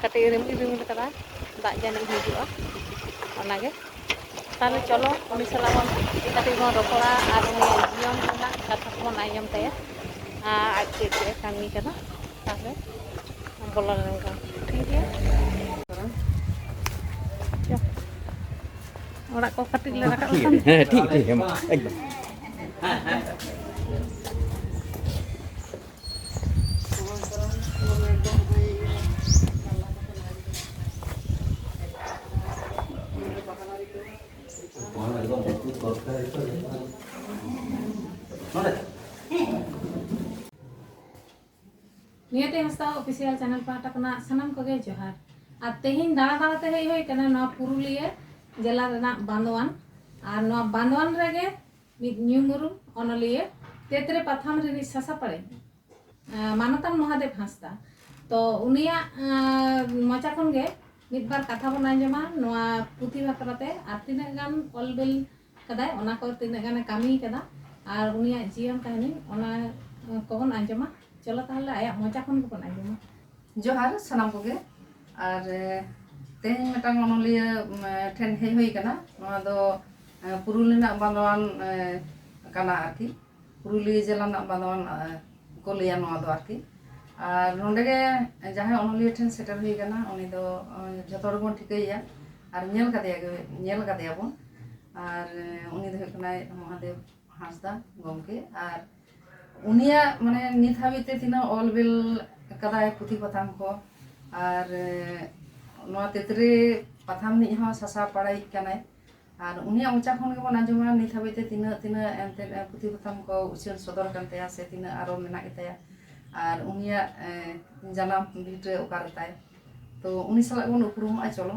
ᱠᱟᱹᱴᱤᱡ ᱮ ᱨᱤᱢᱤᱞ ᱨᱤᱢᱤᱞ ᱠᱟᱫᱟ ᱫᱟᱜ ᱡᱟᱹᱱᱤᱡ ᱦᱤᱡᱩᱜᱼᱟ ᱚᱱᱟᱜᱮ ᱛᱟᱦᱚᱞᱮ ᱪᱚᱞᱚ ᱩᱱᱤ ᱥᱟᱞᱟᱜ ᱵᱚᱱ ᱠᱟᱹᱴᱤᱡ ᱵᱚᱱ ᱨᱚᱯᱚᱲᱟ ᱟᱨ ᱩᱱᱤᱭᱟᱜ ᱡᱤᱭᱚᱱ ᱨᱮᱱᱟᱜ ᱠᱟᱛᱷᱟ ᱠᱚᱵᱚᱱ ᱟᱸᱡᱚᱢ ᱛᱟᱭᱟ ᱟᱨ ᱟᱡ ᱪᱮᱫ ᱪᱮᱫ ᱮ ᱠᱟᱹᱢᱤ ᱠᱟᱱᱟ ᱛᱟᱦᱚᱞᱮ ᱵᱚᱞᱚ ᱞᱮᱱ ᱜᱮ ᱴᱷᱤᱠ ᱜᱮᱭᱟ ᱚᱲᱟᱜ ᱠᱚ ᱠᱟᱹᱴᱤᱡ ᱞᱮ ᱨᱟᱠᱟᱵ ᱞᱮᱠᱷᱟᱱ ᱦᱮᱸ ᱴᱷᱤᱠ ᱴᱷᱤᱠ ᱮᱠᱫᱚᱢ ᱱᱤᱭᱟᱹᱛᱮ ᱦᱟᱸᱥᱫᱟ ᱚᱯᱷᱤᱥᱤᱭᱟᱞ ᱪᱮᱱᱮᱞ ᱯᱟᱦᱴᱟ ᱠᱷᱚᱱᱟᱜ ᱥᱟᱱᱟᱢ ᱠᱚᱜᱮ ᱡᱚᱦᱟᱨ ᱟᱨ ᱛᱮᱦᱮᱧ ᱫᱟᱬᱟ ᱫᱟᱬᱟ ᱛᱮ ᱦᱮᱡ ᱦᱩᱭ ᱠᱟᱱᱟ ᱱᱚᱣᱟ ᱯᱩᱨᱩᱞᱤᱭᱟᱹ ᱡᱮᱞᱟ ᱨᱮᱱᱟᱜ ᱵᱟᱸᱫᱣᱟᱱ ᱟᱨ ᱱᱚᱣᱟ ᱵᱟᱸᱫᱣᱟᱱ ᱨᱮᱜᱮ ᱢᱤᱫ ᱧᱩᱢᱩᱨᱩᱢ ᱚᱱᱚᱞᱤᱭᱟᱹ ᱛᱮᱛᱨᱮ ᱯᱟᱛᱷᱟᱢ ᱨᱤᱱᱤᱡ ᱥᱟᱥᱟᱯᱟᱲᱤ ᱢᱟᱱᱚᱛᱟᱱ ᱢᱚᱦᱟᱫᱮᱵ ᱦᱟᱸᱥᱫᱟ ᱛᱚ ᱩᱱᱤᱭᱟᱜ ᱢᱚᱪᱟ ᱠᱷᱚᱱ ᱜᱮ ᱢᱤᱫ ᱵᱟᱨ ᱠᱟᱛᱷᱟ ᱵᱚᱱ ᱟᱸᱡᱚᱢᱟ ᱱᱚᱣᱟ ᱯᱩᱛᱷᱤ ᱵᱟᱠᱷᱨᱟᱛᱮ ᱟᱨ ᱛᱤᱱᱟᱹᱜ ᱜᱟᱱ ᱚᱞᱵᱤᱞ ᱠᱟᱫᱟᱭ ᱚᱱᱟ ᱠᱚ ᱛᱤᱱᱟᱹᱜ ᱜᱟᱱᱮ ᱠᱟᱹᱢᱤ ᱠᱟᱫᱟ ᱟᱨ ᱩᱱᱤᱭᱟᱜ ᱡᱤᱭᱚᱱ ᱠᱟᱹᱦᱱᱤ ᱚᱱᱟ ᱠᱚᱵᱚᱱ ᱟᱸᱡᱚᱢᱟ ᱪᱚᱞᱚ ᱛᱟᱦᱚᱞᱮ ᱟᱭᱟᱜ ᱢᱚᱪᱟ ᱠᱷᱚᱱ ᱜᱮᱵᱚᱱ ᱟᱸᱡᱚᱢᱟ ᱡᱚᱦᱟᱨ ᱥᱟᱱᱟᱢ ᱠᱚᱜᱮ ᱟᱨ ᱛᱮᱦᱮᱧ ᱢᱤᱫᱴᱟᱝ ᱚᱱᱚᱞᱤᱭᱟᱹ ᱴᱷᱮᱱ ᱦᱮᱡ ᱦᱩᱭ ᱠᱟᱱᱟ ᱱᱚᱣᱟ ᱫᱚ ᱯᱩᱨᱩᱞ ᱨᱮᱱᱟᱜ ᱵᱟᱸᱫᱚᱣᱟᱱ ᱠᱟᱱᱟ ᱟᱨᱠᱤ ᱯᱩᱨᱩᱞᱤᱭᱟᱹ ᱡᱮᱞᱟ ᱨᱮᱱᱟᱜ ᱵᱟᱸᱫᱚᱣᱟᱱ ᱠᱚ ᱞᱟᱹᱭᱟ ᱱᱚᱣᱟ ᱫᱚ ᱟᱨᱠᱤ ᱟᱨ ᱱᱚᱰᱮ ᱜᱮ ᱡᱟᱦᱟᱸᱭ ᱚᱱᱚᱞᱤᱭᱟᱹ ᱴᱷᱮᱱ ᱥᱮᱴᱮᱨ ᱦᱩᱭ ᱠᱟᱱᱟ ᱩᱱᱤ ᱫᱚ ᱡᱚᱛᱚ ᱦᱚᱲ ᱵᱚᱱ ᱴᱷᱤᱠᱟᱹᱭᱮᱭᱟ ᱟᱨ ᱧᱮᱞ ᱠᱟᱫᱮᱭᱟ ᱧᱮᱞ ᱠᱟᱫᱮᱭᱟ ᱵᱚᱱ ᱟᱨ ᱩᱱᱤ ᱫᱚ ᱦᱩᱭᱩᱜ ᱠᱟᱱᱟᱭ ᱢᱚᱦᱟᱫᱮᱵ ᱦᱟᱸᱥᱫᱟ ᱜᱚᱢᱠᱮ ᱟᱨ ᱩᱱᱤᱭᱟᱜ ᱢᱟᱱᱮ ᱱᱤᱛ ᱦᱟᱹᱵᱤᱡ ᱛᱮ ᱛᱤᱱᱟᱹᱜ ᱚᱞ ᱵᱤᱞ ᱠᱟᱫᱟᱭ ᱯᱩᱛᱷᱤ ᱯᱟᱛᱷᱟᱢ ᱠᱚ ᱟᱨ ᱱᱚᱣᱟ ᱛᱮᱛᱨᱮ ᱯᱟᱛᱷᱟᱢ ᱱᱤᱡ ᱦᱚᱸ ᱥᱟᱥᱟᱣ ᱯᱟᱲᱟᱭᱤᱡ ᱠᱟᱱᱟᱭ ᱟᱨ ᱩᱱᱤᱭᱟᱜ ᱢᱚᱪᱟ ᱠᱷᱚᱱ ᱜᱮᱵᱚᱱ ᱟᱸᱡᱚᱢᱟ ᱱᱤᱛ ᱦᱟᱹᱵᱤᱡ ᱛᱮ ᱛᱤᱱᱟᱹᱜ ᱛᱤᱱᱟᱹᱜ ᱮᱱᱛᱮᱫ ᱯᱩᱛᱷᱤ ᱯᱟᱛᱷᱟᱢ ᱠᱚ ᱩᱪᱷᱟᱹᱱ ᱥᱚᱫᱚᱨ ᱠᱟᱱ ᱛᱟᱭᱟ ᱥᱮ ᱛᱤᱱᱟᱹᱜ ᱟᱨᱚ ᱢᱮᱱᱟᱜ ᱜᱮᱛᱟᱭᱟ ᱟᱨ ᱩᱱᱤᱭᱟᱜ ᱡᱟᱱᱟᱢ ᱵᱷᱤᱴᱟᱹ ᱚᱠᱟᱨᱮ ᱛᱟᱭ ᱛᱚ ᱩᱱᱤ ᱥᱟᱞᱟᱜ ᱵᱚᱱ ᱩᱯᱨᱩᱢᱚᱜᱼᱟ ᱪᱚᱞᱚ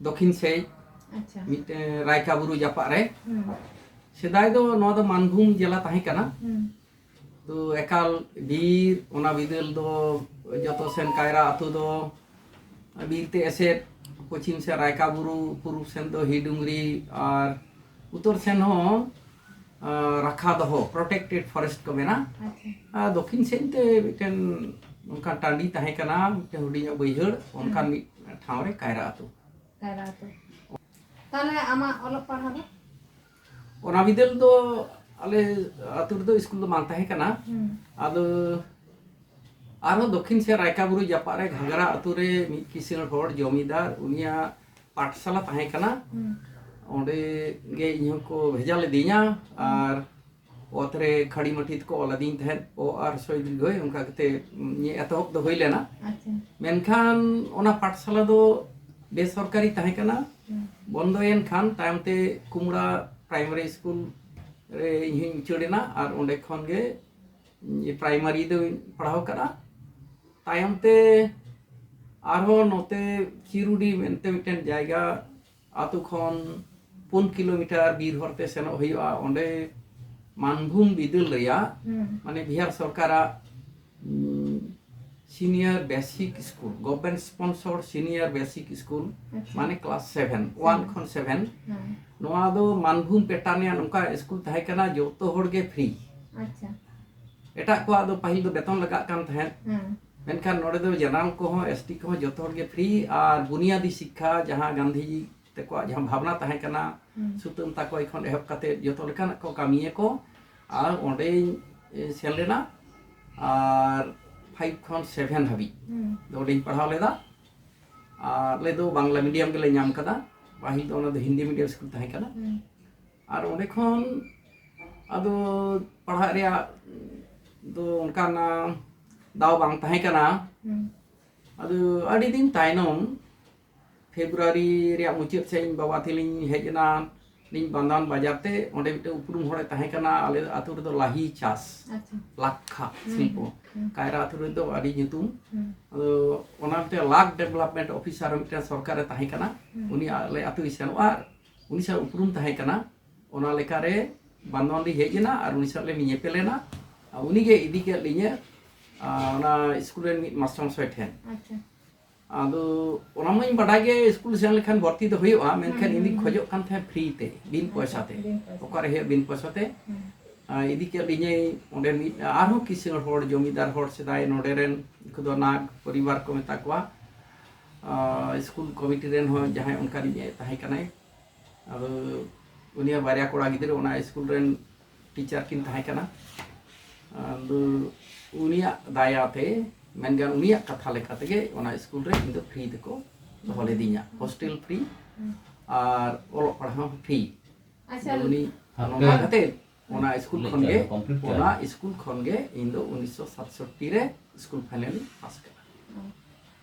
ᱫᱚᱠᱷᱤᱱ ᱥᱮᱡ ᱢᱤᱫᱴᱮᱱ ᱨᱟᱭᱠᱟ ᱵᱩᱨᱩ ᱡᱟᱯᱟᱜ ᱨᱮ ᱥᱮᱫᱟᱭ ᱫᱚ ᱱᱚᱣᱟ ᱫᱚ ᱢᱟᱱᱵᱷᱩᱢ ᱡᱮᱞᱟ ᱛᱟᱦᱮᱸ ᱠᱟᱱᱟ ᱛᱚ ᱮᱠᱟᱞ ᱵᱤᱨ ᱚᱱᱟ ᱵᱤᱫᱟᱹᱞ ᱫᱚ ᱡᱚᱛᱚ ᱥᱮᱱ ᱠᱟᱭᱨᱟ ᱟᱛᱳ ᱫᱚ ᱵᱤᱨ ᱛᱮ ᱮᱥᱮᱫ ᱯᱚᱪᱷᱤᱢ ᱥᱮᱫ ᱨᱟᱭᱠᱟ ᱵᱩᱨᱩ ᱯᱩᱨᱩᱵ ᱥᱮᱱ ᱫᱚ ᱦᱤᱰᱩᱝᱨᱤ ᱟᱨ ᱩᱛᱚᱨ ᱥᱮᱱ ᱦᱚᱸ ᱨᱟᱠᱷᱟ ᱫᱚᱦᱚ ᱯᱨᱚᱴᱮᱠᱴᱮᱰ ᱯᱷᱚᱨᱮᱥᱴ ᱠᱚ ᱢᱮᱱᱟ ᱫᱚᱠᱷᱤᱱ ᱥᱮᱫ ᱛᱮ ᱢᱤᱫᱴᱮᱱ ᱚᱱᱠᱟᱱ ᱴᱟᱺᱰᱤ ᱛᱟᱦᱮᱸ ᱠᱟᱱᱟ ᱢᱤᱫᱴᱮᱱ ᱦᱩᱰᱤᱧᱟᱜ ᱵᱟᱹᱭᱦᱟᱹᱲ ᱚᱱᱠᱟᱱ ᱢᱤᱫ ᱴᱷᱟᱶ ᱨᱮ ᱠᱟᱭᱨᱟ ᱟᱛᱳ ᱠᱟᱭᱨᱟ ᱟᱛᱳ ᱛᱟᱦᱞᱮ ᱟᱢᱟᱜ ᱚᱞᱚᱜ ᱯᱟᱲᱦᱟᱣ ᱫᱚ ᱚᱱᱟ ᱵᱤᱫᱟᱹᱞ ᱫᱚ ᱟᱞᱮ ᱟᱛᱳ ᱨᱮᱫᱚ ᱥᱠᱩᱞ ᱫᱚ ᱵᱟᱝ ᱛᱟᱦᱮᱸ ᱠᱟᱱᱟ ᱟᱫᱚ ᱟᱨᱦᱚᱸ ᱫᱚᱠᱷᱤᱱ ᱥᱮᱫ ᱨᱟᱭᱠᱟᱵᱩᱨᱩ ᱡᱟᱯᱟᱜ ᱨᱮ ᱜᱷᱟᱜᱽᱨᱟ ᱟᱛᱳ ᱨᱮ ᱢᱤᱫ ᱠᱤᱥᱟᱹᱬ ᱦᱚᱲ ᱡᱚᱢᱤᱫᱟᱨ ᱩᱱᱤᱭᱟᱜ ᱯᱟᱴᱷᱥᱟᱞᱟ ᱛᱟᱦᱮᱸ ᱠᱟᱱᱟ ᱚᱸᱰᱮ ᱜᱮ ᱤᱧ ᱦᱚᱸᱠᱚ ᱵᱷᱮᱡᱟ ᱞᱮᱫᱤᱧᱟ ᱟᱨ ᱚᱛ ᱨᱮ ᱠᱷᱟᱹᱲᱤ ᱢᱟᱹᱴᱤ ᱛᱮᱠᱚ ᱚᱞ ᱟᱹᱫᱤᱧ ᱛᱟᱦᱮᱸᱫ ᱚ ᱟᱨ ᱥᱚᱭ ᱫᱤᱨᱜᱷᱚᱭ ᱚᱱᱠᱟ ᱠᱟᱛᱮ ᱤᱧᱟᱹᱜ ᱮᱛᱚᱦᱚᱵ ᱫᱚ ᱦᱩᱭ ᱞᱮᱱᱟ ᱢᱮᱱᱠᱷᱟᱱ ᱚᱱᱟ ᱯᱟᱴᱷᱥᱟᱞᱟ ᱫᱚ ᱵᱮᱥᱚᱨᱠᱟᱨᱤ ᱛᱟᱦᱮᱸ ᱠᱟᱱᱟ ᱵᱚᱱᱫᱚᱭᱮᱱ ᱠᱷᱟᱱ ᱛᱟᱭᱚᱢ ᱛᱮ ᱠᱩᱢᱲᱟ ᱯᱨᱟᱭᱢᱟᱨᱤ ᱥᱠᱩᱞ ᱨᱮ ᱤᱧ ᱦᱚᱧ ᱩᱪᱟᱹᱲ ᱮᱱᱟ ᱟᱨ ᱚᱸᱰᱮ ᱠᱷᱚᱱ ᱜᱮ ᱯᱨᱟᱭᱢᱟᱨᱤ ᱫᱚ ᱯᱟᱲᱦᱟᱣ ᱠᱟᱫᱟ ᱛᱟᱭᱚᱢ ᱛᱮ ᱟᱨᱦᱚᱸ ᱱᱚᱛᱮ ᱠᱷᱤᱨᱩᱰᱤ ᱢᱮᱱᱛᱮ ᱢᱤᱫᱴᱮᱱ ᱡᱟᱭᱜᱟ ᱟᱛᱳ ᱠᱷᱚᱱ ᱯᱩᱱ ᱠᱤᱞᱳᱢᱤᱴᱟᱨ ᱵᱤᱨ ᱦᱚᱨᱛᱮ ᱥᱮᱱᱚᱜ ᱦᱩᱭᱩᱜᱼᱟ ᱚᱸᱰᱮ ᱢᱟᱱᱵᱷᱩᱢ ᱵᱤᱫᱟᱹᱞ ᱨᱮᱭᱟᱜ ᱢᱟᱱᱮ ᱵᱤᱦᱟᱨ ᱥᱚᱨᱠᱟᱨᱟᱜ senior basic school government sponsor senior basic school ᱢᱟᱱᱮ ᱠᱞᱟᱥ ᱥᱮᱵᱷᱮᱱ ᱳᱣᱟᱱ ᱠᱷᱚᱱ ᱥᱮᱵᱷᱮᱱ ᱱᱚᱣᱟ ᱫᱚ ᱢᱟᱱᱵᱷᱩᱢ ᱯᱮᱴᱟᱨᱱ ᱨᱮᱭᱟᱜ ᱱᱚᱝᱠᱟ ᱥᱠᱩᱞ ᱛᱟᱦᱮᱸ ᱠᱟᱱᱟ ᱡᱚᱛᱚ ᱦᱚᱲ ᱜᱮ ᱯᱷᱨᱤ ᱮᱴᱟᱜ ᱠᱚᱣᱟᱜ ᱫᱚ ᱯᱟᱹᱦᱤᱞ ᱫᱚ ᱵᱮᱛᱚᱱ ᱞᱟᱜᱟᱜ ᱠᱟᱱ ᱛᱟᱦᱮᱸᱫ ᱢᱮᱱᱠᱷᱟᱱ ᱱᱚᱰᱮ ᱫᱚ ᱡᱮᱱᱟᱨᱮᱞ ᱠᱚᱦᱚᱸ ᱮᱥ ᱴᱤ ᱠᱚᱦᱚᱸ ᱡᱚᱛᱚ ᱦᱚᱲ ᱜᱮ ᱯᱷᱨᱤ ᱟᱨ ᱵᱩᱱᱤᱭᱟᱫᱤ ᱥᱤᱠᱠᱷᱟ ᱡᱟᱦᱟᱸ ᱜᱟᱱᱫᱷᱤᱡᱤ ᱛᱮᱠᱚᱣᱟᱜ ᱡᱟᱦᱟᱸ ᱵᱷᱟᱵᱽᱱᱟ ᱛᱟᱦᱮᱸ ᱠᱟᱱᱟ ᱥᱩᱛᱟᱹᱢ ᱛᱟᱠᱚᱭ ᱠᱷᱚᱱ ᱮᱦᱚᱵ ᱠᱟᱛᱮ ᱡᱚᱛᱚ ᱞᱮᱠᱟᱱᱟᱜ ᱠᱚ ᱠᱟᱹᱢᱤᱭᱟᱠᱚ ᱟᱨ ᱚᱸᱰᱮᱧ ᱥᱮᱱ ᱞᱮᱱᱟ ᱟᱨ ᱯᱷᱟᱭᱤᱵᱷ ᱠᱷᱚᱱ ᱥᱮᱵᱷᱮᱱ ᱦᱟᱹᱵᱤᱡ ᱫᱚ ᱚᱸᱰᱮᱧ ᱯᱟᱲᱦᱟᱣ ᱞᱮᱫᱟ ᱟᱨ ᱟᱞᱮ ᱫᱚ ᱵᱟᱝᱞᱟ ᱢᱤᱰᱤᱭᱟᱢ ᱜᱮᱞᱮ ᱧᱟᱢ ᱠᱟᱫᱟ ᱯᱟᱹᱦᱤᱞ ᱫᱚ ᱚᱱᱟ ᱫᱚ ᱦᱤᱱᱫᱤ ᱢᱤᱰᱤᱭᱟᱢ ᱥᱠᱩᱞ ᱛᱟᱦᱮᱸ ᱠᱟᱱᱟ ᱟᱨ ᱚᱸᱰᱮ ᱠᱷᱚᱱ ᱟᱫᱚ ᱯᱟᱲᱦᱟᱜ ᱨᱮᱭᱟᱜ ᱫᱚ ᱚᱱᱠᱟᱱ ᱫᱟᱣ ᱵᱟᱝ ᱛᱟᱦᱮᱸ ᱠᱟᱱᱟ ᱟᱫᱚ ᱟᱹᱰᱤ ᱫᱤᱱ ᱛᱟᱭᱱᱚᱢ ᱯᱷᱮᱵᱽᱨᱩᱣᱟᱨᱤ ᱨᱮᱭᱟᱜ ᱢᱩᱪᱟᱹᱫ ᱥᱮᱫ ᱤᱧ ᱵᱟᱵᱟ ᱛᱤᱞᱤᱧ ᱦᱮᱡ ᱮᱱᱟ ᱞᱤᱧ ᱵᱟᱱᱫᱟᱱ ᱵᱟᱡᱟᱨ ᱛᱮ ᱚᱸᱰᱮ ᱢᱤᱫᱴᱮᱱ ᱩᱯᱨᱩᱢ ᱦᱚᱲᱮ ᱛᱟᱦᱮᱸ ᱠᱟᱱᱟ ᱟᱞᱮ ᱟᱛᱳ ᱨᱮᱫᱚ ᱞᱟᱦᱤ ᱪᱟᱥ ᱞᱟᱠᱷᱟ ᱥᱤᱞᱯᱚ ᱠᱟᱭᱨᱟ ᱟᱛᱳ ᱨᱮᱫᱚ ᱟᱹᱰᱤ ᱧᱩᱛᱩᱢ ᱟᱫᱚ ᱚᱱᱟ ᱢᱤᱫᱴᱮᱱ ᱞᱟᱠᱷ ᱰᱮᱵᱷᱞᱚᱯᱢᱮᱱᱴ ᱚᱯᱷᱤᱥᱟᱨ ᱢᱤᱫᱴᱮᱱ ᱥᱚᱨᱠᱟᱨᱮ ᱛᱟᱦᱮᱸ ᱠᱟᱱᱟ ᱩᱱᱤ ᱟᱞᱮ ᱟᱛᱳᱭ ᱥᱮᱱᱚᱜᱼᱟ ᱩᱱᱤ ᱥᱟᱶ ᱩᱯᱨᱩᱢ ᱛᱟᱦᱮᱸ ᱠᱟᱱᱟ ᱚᱱᱟ ᱞᱮᱠᱟᱨᱮ ᱵᱟᱱᱫᱚᱱ ᱞᱤᱧ ᱦᱮᱡ ᱮᱱᱟ ᱟᱨ ᱩᱱᱤ ᱥᱟᱶ ᱞᱮ ᱧᱮᱯᱮᱞᱮᱱᱟ ᱩᱱᱤᱜᱮ ᱤᱫᱤ ᱠᱮᱫ ᱞᱤᱧᱟᱹ ᱚᱱᱟ ᱥᱠᱩᱞ ᱨᱮᱱ ᱢᱤᱫ ᱢᱟᱥᱴᱟᱨ ᱢᱚᱥᱟᱭ ᱴᱷᱮᱱ ᱟᱫᱚ ᱚᱱᱟ ᱢᱟᱹᱧ ᱵᱟᱰᱟᱭ ᱜᱮ ᱥᱠᱩᱞ ᱥᱮᱱ ᱞᱮᱠᱷᱟᱱ ᱵᱷᱚᱨᱛᱤ ᱫᱚ ᱦᱩᱭᱩᱜᱼᱟ ᱢᱮᱱᱠᱷᱟᱱ ᱤᱧ ᱠᱷᱚᱡᱚᱜ ᱠᱟᱱ ᱛᱟᱦᱮᱸ ᱯᱷᱨᱤ ᱛᱮ ᱵᱤᱱ ᱯᱚᱭᱥᱟ ᱛᱮ ᱚᱠᱟᱨᱮ ᱦᱩᱭᱩᱜ ᱵᱤᱱ ᱯᱚᱭᱥᱟ ᱛᱮ ᱤᱫᱤ ᱠᱮᱫ ᱞᱤᱧᱟᱹᱭ ᱚᱸᱰᱮ ᱢᱤᱫ ᱟᱨᱦᱚᱸ ᱠᱤᱥᱟᱹᱬ ᱦᱚᱲ ᱡᱚᱢᱤᱫᱟᱨ ᱦᱚᱲ ᱥᱮᱫᱟᱭ ᱱᱚᱰᱮ ᱨᱮᱱ ᱩᱱᱠᱩ ᱫᱚ ᱱᱟᱜᱽ ᱯᱚᱨᱤᱵᱟᱨ ᱠᱚ ᱢᱮᱛᱟ ᱠᱚᱣᱟ ᱥᱠᱩᱞ ᱠᱚᱢᱤᱴᱤ ᱨᱮᱱ ᱦᱚᱸ ᱡᱟᱦᱟᱸᱭ ᱚᱱᱠᱟᱱᱤᱡ ᱛᱟᱦᱮᱸ ᱠᱟᱱᱟᱭ ᱟᱫᱚ ᱩᱱᱤᱭᱟᱜ ᱵᱟᱨᱭᱟ ᱠᱚᱲᱟ ᱜᱤᱫᱽᱨᱟᱹ ᱚᱱᱟ ᱥᱠᱩᱞ ᱨᱮᱱ ᱴᱤᱪᱟᱨ ᱠᱤᱱ ᱛᱟᱦᱮᱸ ᱠᱟᱱᱟ ᱟᱫᱚ ᱩᱱᱤᱭᱟᱜ ᱫᱟᱭᱟᱛᱮ ᱢᱮᱱᱠᱷᱟᱱ ᱩᱱᱤᱭᱟᱜ ᱠᱟᱛᱷᱟ ᱞᱮᱠᱟ ᱛᱮᱜᱮ ᱚᱱᱟ ᱥᱠᱩᱞ ᱨᱮ ᱤᱧ ᱫᱚ ᱯᱷᱨᱤ ᱛᱮᱠᱚ ᱫᱚᱦᱚ ᱞᱤᱫᱤᱧᱟ ᱦᱳᱥᱴᱮᱞ ᱯᱷᱨᱤ ᱟᱨ ᱚᱞᱚᱜ ᱯᱟᱲᱦᱟᱣ ᱦᱚᱸ ᱯᱷᱨᱤ ᱩᱱᱤ ᱱᱚᱝᱠᱟ ᱠᱟᱛᱮ ᱚᱱᱟ ᱥᱠᱩᱞ ᱠᱷᱚᱱ ᱜᱮ ᱚᱱᱟ ᱥᱠᱩᱞ ᱠᱷᱚᱱ ᱜᱮ ᱤᱧ ᱫᱚ ᱩᱱᱤᱥᱥᱚ ᱥᱟᱛᱥᱚᱴᱴᱤ ᱨᱮ ᱥᱠᱩᱞ ᱯᱷᱟᱭᱱᱮᱞ ᱯᱟᱥ ᱠᱮᱫᱟ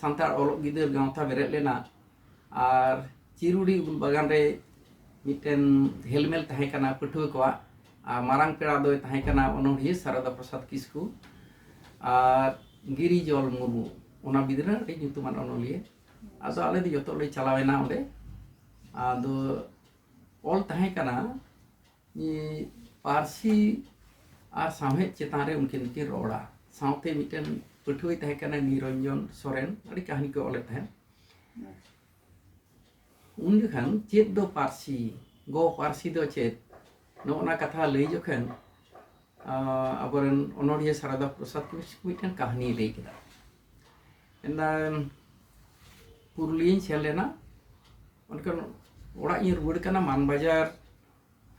ᱥᱟᱱᱛᱟᱲ ᱚᱞᱚᱜ ᱜᱤᱫᱟᱹᱨ ᱜᱟᱶᱛᱟ ᱵᱮᱨᱮᱫ ᱞᱮᱱᱟ ᱟᱨ ᱪᱤᱨᱩᱰᱤ ᱩᱞ ᱵᱟᱜᱟᱱ ᱨᱮ ᱢᱤᱫᱴᱮᱱ ᱦᱮᱞᱢᱮᱞ ᱛᱟᱦᱮᱸ ᱠᱟᱱᱟ ᱯᱟᱹᱴᱷᱩᱣᱟᱹ ᱠᱚᱣᱟᱜ ᱟᱨ ᱢᱟᱨᱟᱝ ᱯᱮᱲᱟ ᱫᱚᱭ ᱛᱟᱦᱮᱸ ᱠᱟᱱᱟ ᱚᱱᱚᱬᱦᱤᱭᱟᱹ ᱥᱟᱨᱚᱫᱟ ᱯᱨᱚᱥᱟᱫᱽ ᱠᱤᱥᱠᱩ ᱟᱨ ᱜᱤᱨᱤ ᱡᱚᱞ ᱢᱩᱨᱢᱩ ᱚᱱᱟ ᱵᱤᱫᱽᱨᱟᱹ ᱟᱹᱰᱤ ᱧᱩᱛᱩᱢᱟᱱ ᱚᱱᱚᱞᱤᱭᱟᱹ ᱟᱫᱚ ᱟᱞᱮ ᱫᱚ ᱡᱚᱛᱚ ᱞᱮ ᱪᱟᱞᱟᱣᱮᱱᱟ ᱚᱸᱰᱮ ᱟᱫᱚ ᱚᱞ ᱛᱟᱦᱮᱸ ᱠᱟᱱᱟ ᱯᱟᱹᱨᱥᱤ ᱟᱨ ᱥᱟᱶᱦᱮᱫ ᱪᱮᱛᱟᱱ ᱨᱮ ᱩᱱᱠᱤᱱ ᱫᱚᱠᱤᱱ ᱨᱚᱲᱟ ᱥᱟᱶᱛᱮ ᱢᱤᱫᱴᱮᱱ ᱯᱟᱹᱴᱷᱩᱣᱟᱹᱭ ᱛᱟᱦᱮᱸ ᱠᱟᱱᱟ ᱱᱤᱨᱚᱧᱡᱚᱱ ᱥᱚᱨᱮᱱ ᱟᱹᱰᱤ ᱠᱟᱹᱦᱱᱤ ᱠᱚ ᱚᱞᱮᱫ ᱛᱟᱦᱮᱸᱫ ᱩᱱ ᱡᱚᱠᱷᱟᱱ ᱪᱮᱫ ᱫᱚ ᱯᱟᱹᱨᱥᱤ ᱜᱚ ᱯᱟᱹᱨᱥᱤ ᱫᱚ ᱪᱮᱫ ᱱᱚᱜᱼᱚ ᱱᱟ ᱠᱟᱛᱷᱟ ᱞᱟᱹᱭ ᱡᱚᱠᱷᱟᱱ ᱟᱵᱚᱨᱮᱱ ᱚᱱᱚᱲᱦᱤᱭᱟᱹ ᱥᱟᱨᱟᱫᱟ ᱯᱨᱚᱥᱟᱫᱽ ᱠᱤᱥᱠᱩ ᱢᱤᱫᱴᱮᱱ ᱠᱟᱹᱦᱱᱤ ᱞᱟᱹᱭ ᱠᱮᱫᱟ ᱢᱮᱱᱫᱟ ᱯᱩᱨᱩᱞᱤᱭᱟᱹᱧ ᱥᱮᱱ ᱞᱮᱱᱟ ᱢᱮᱱᱠᱷᱟᱱ ᱚᱲᱟᱜ ᱤᱧ ᱨᱩᱣᱟᱹᱲ ᱠᱟᱱᱟ ᱢᱟᱱᱵᱟᱡᱟᱨ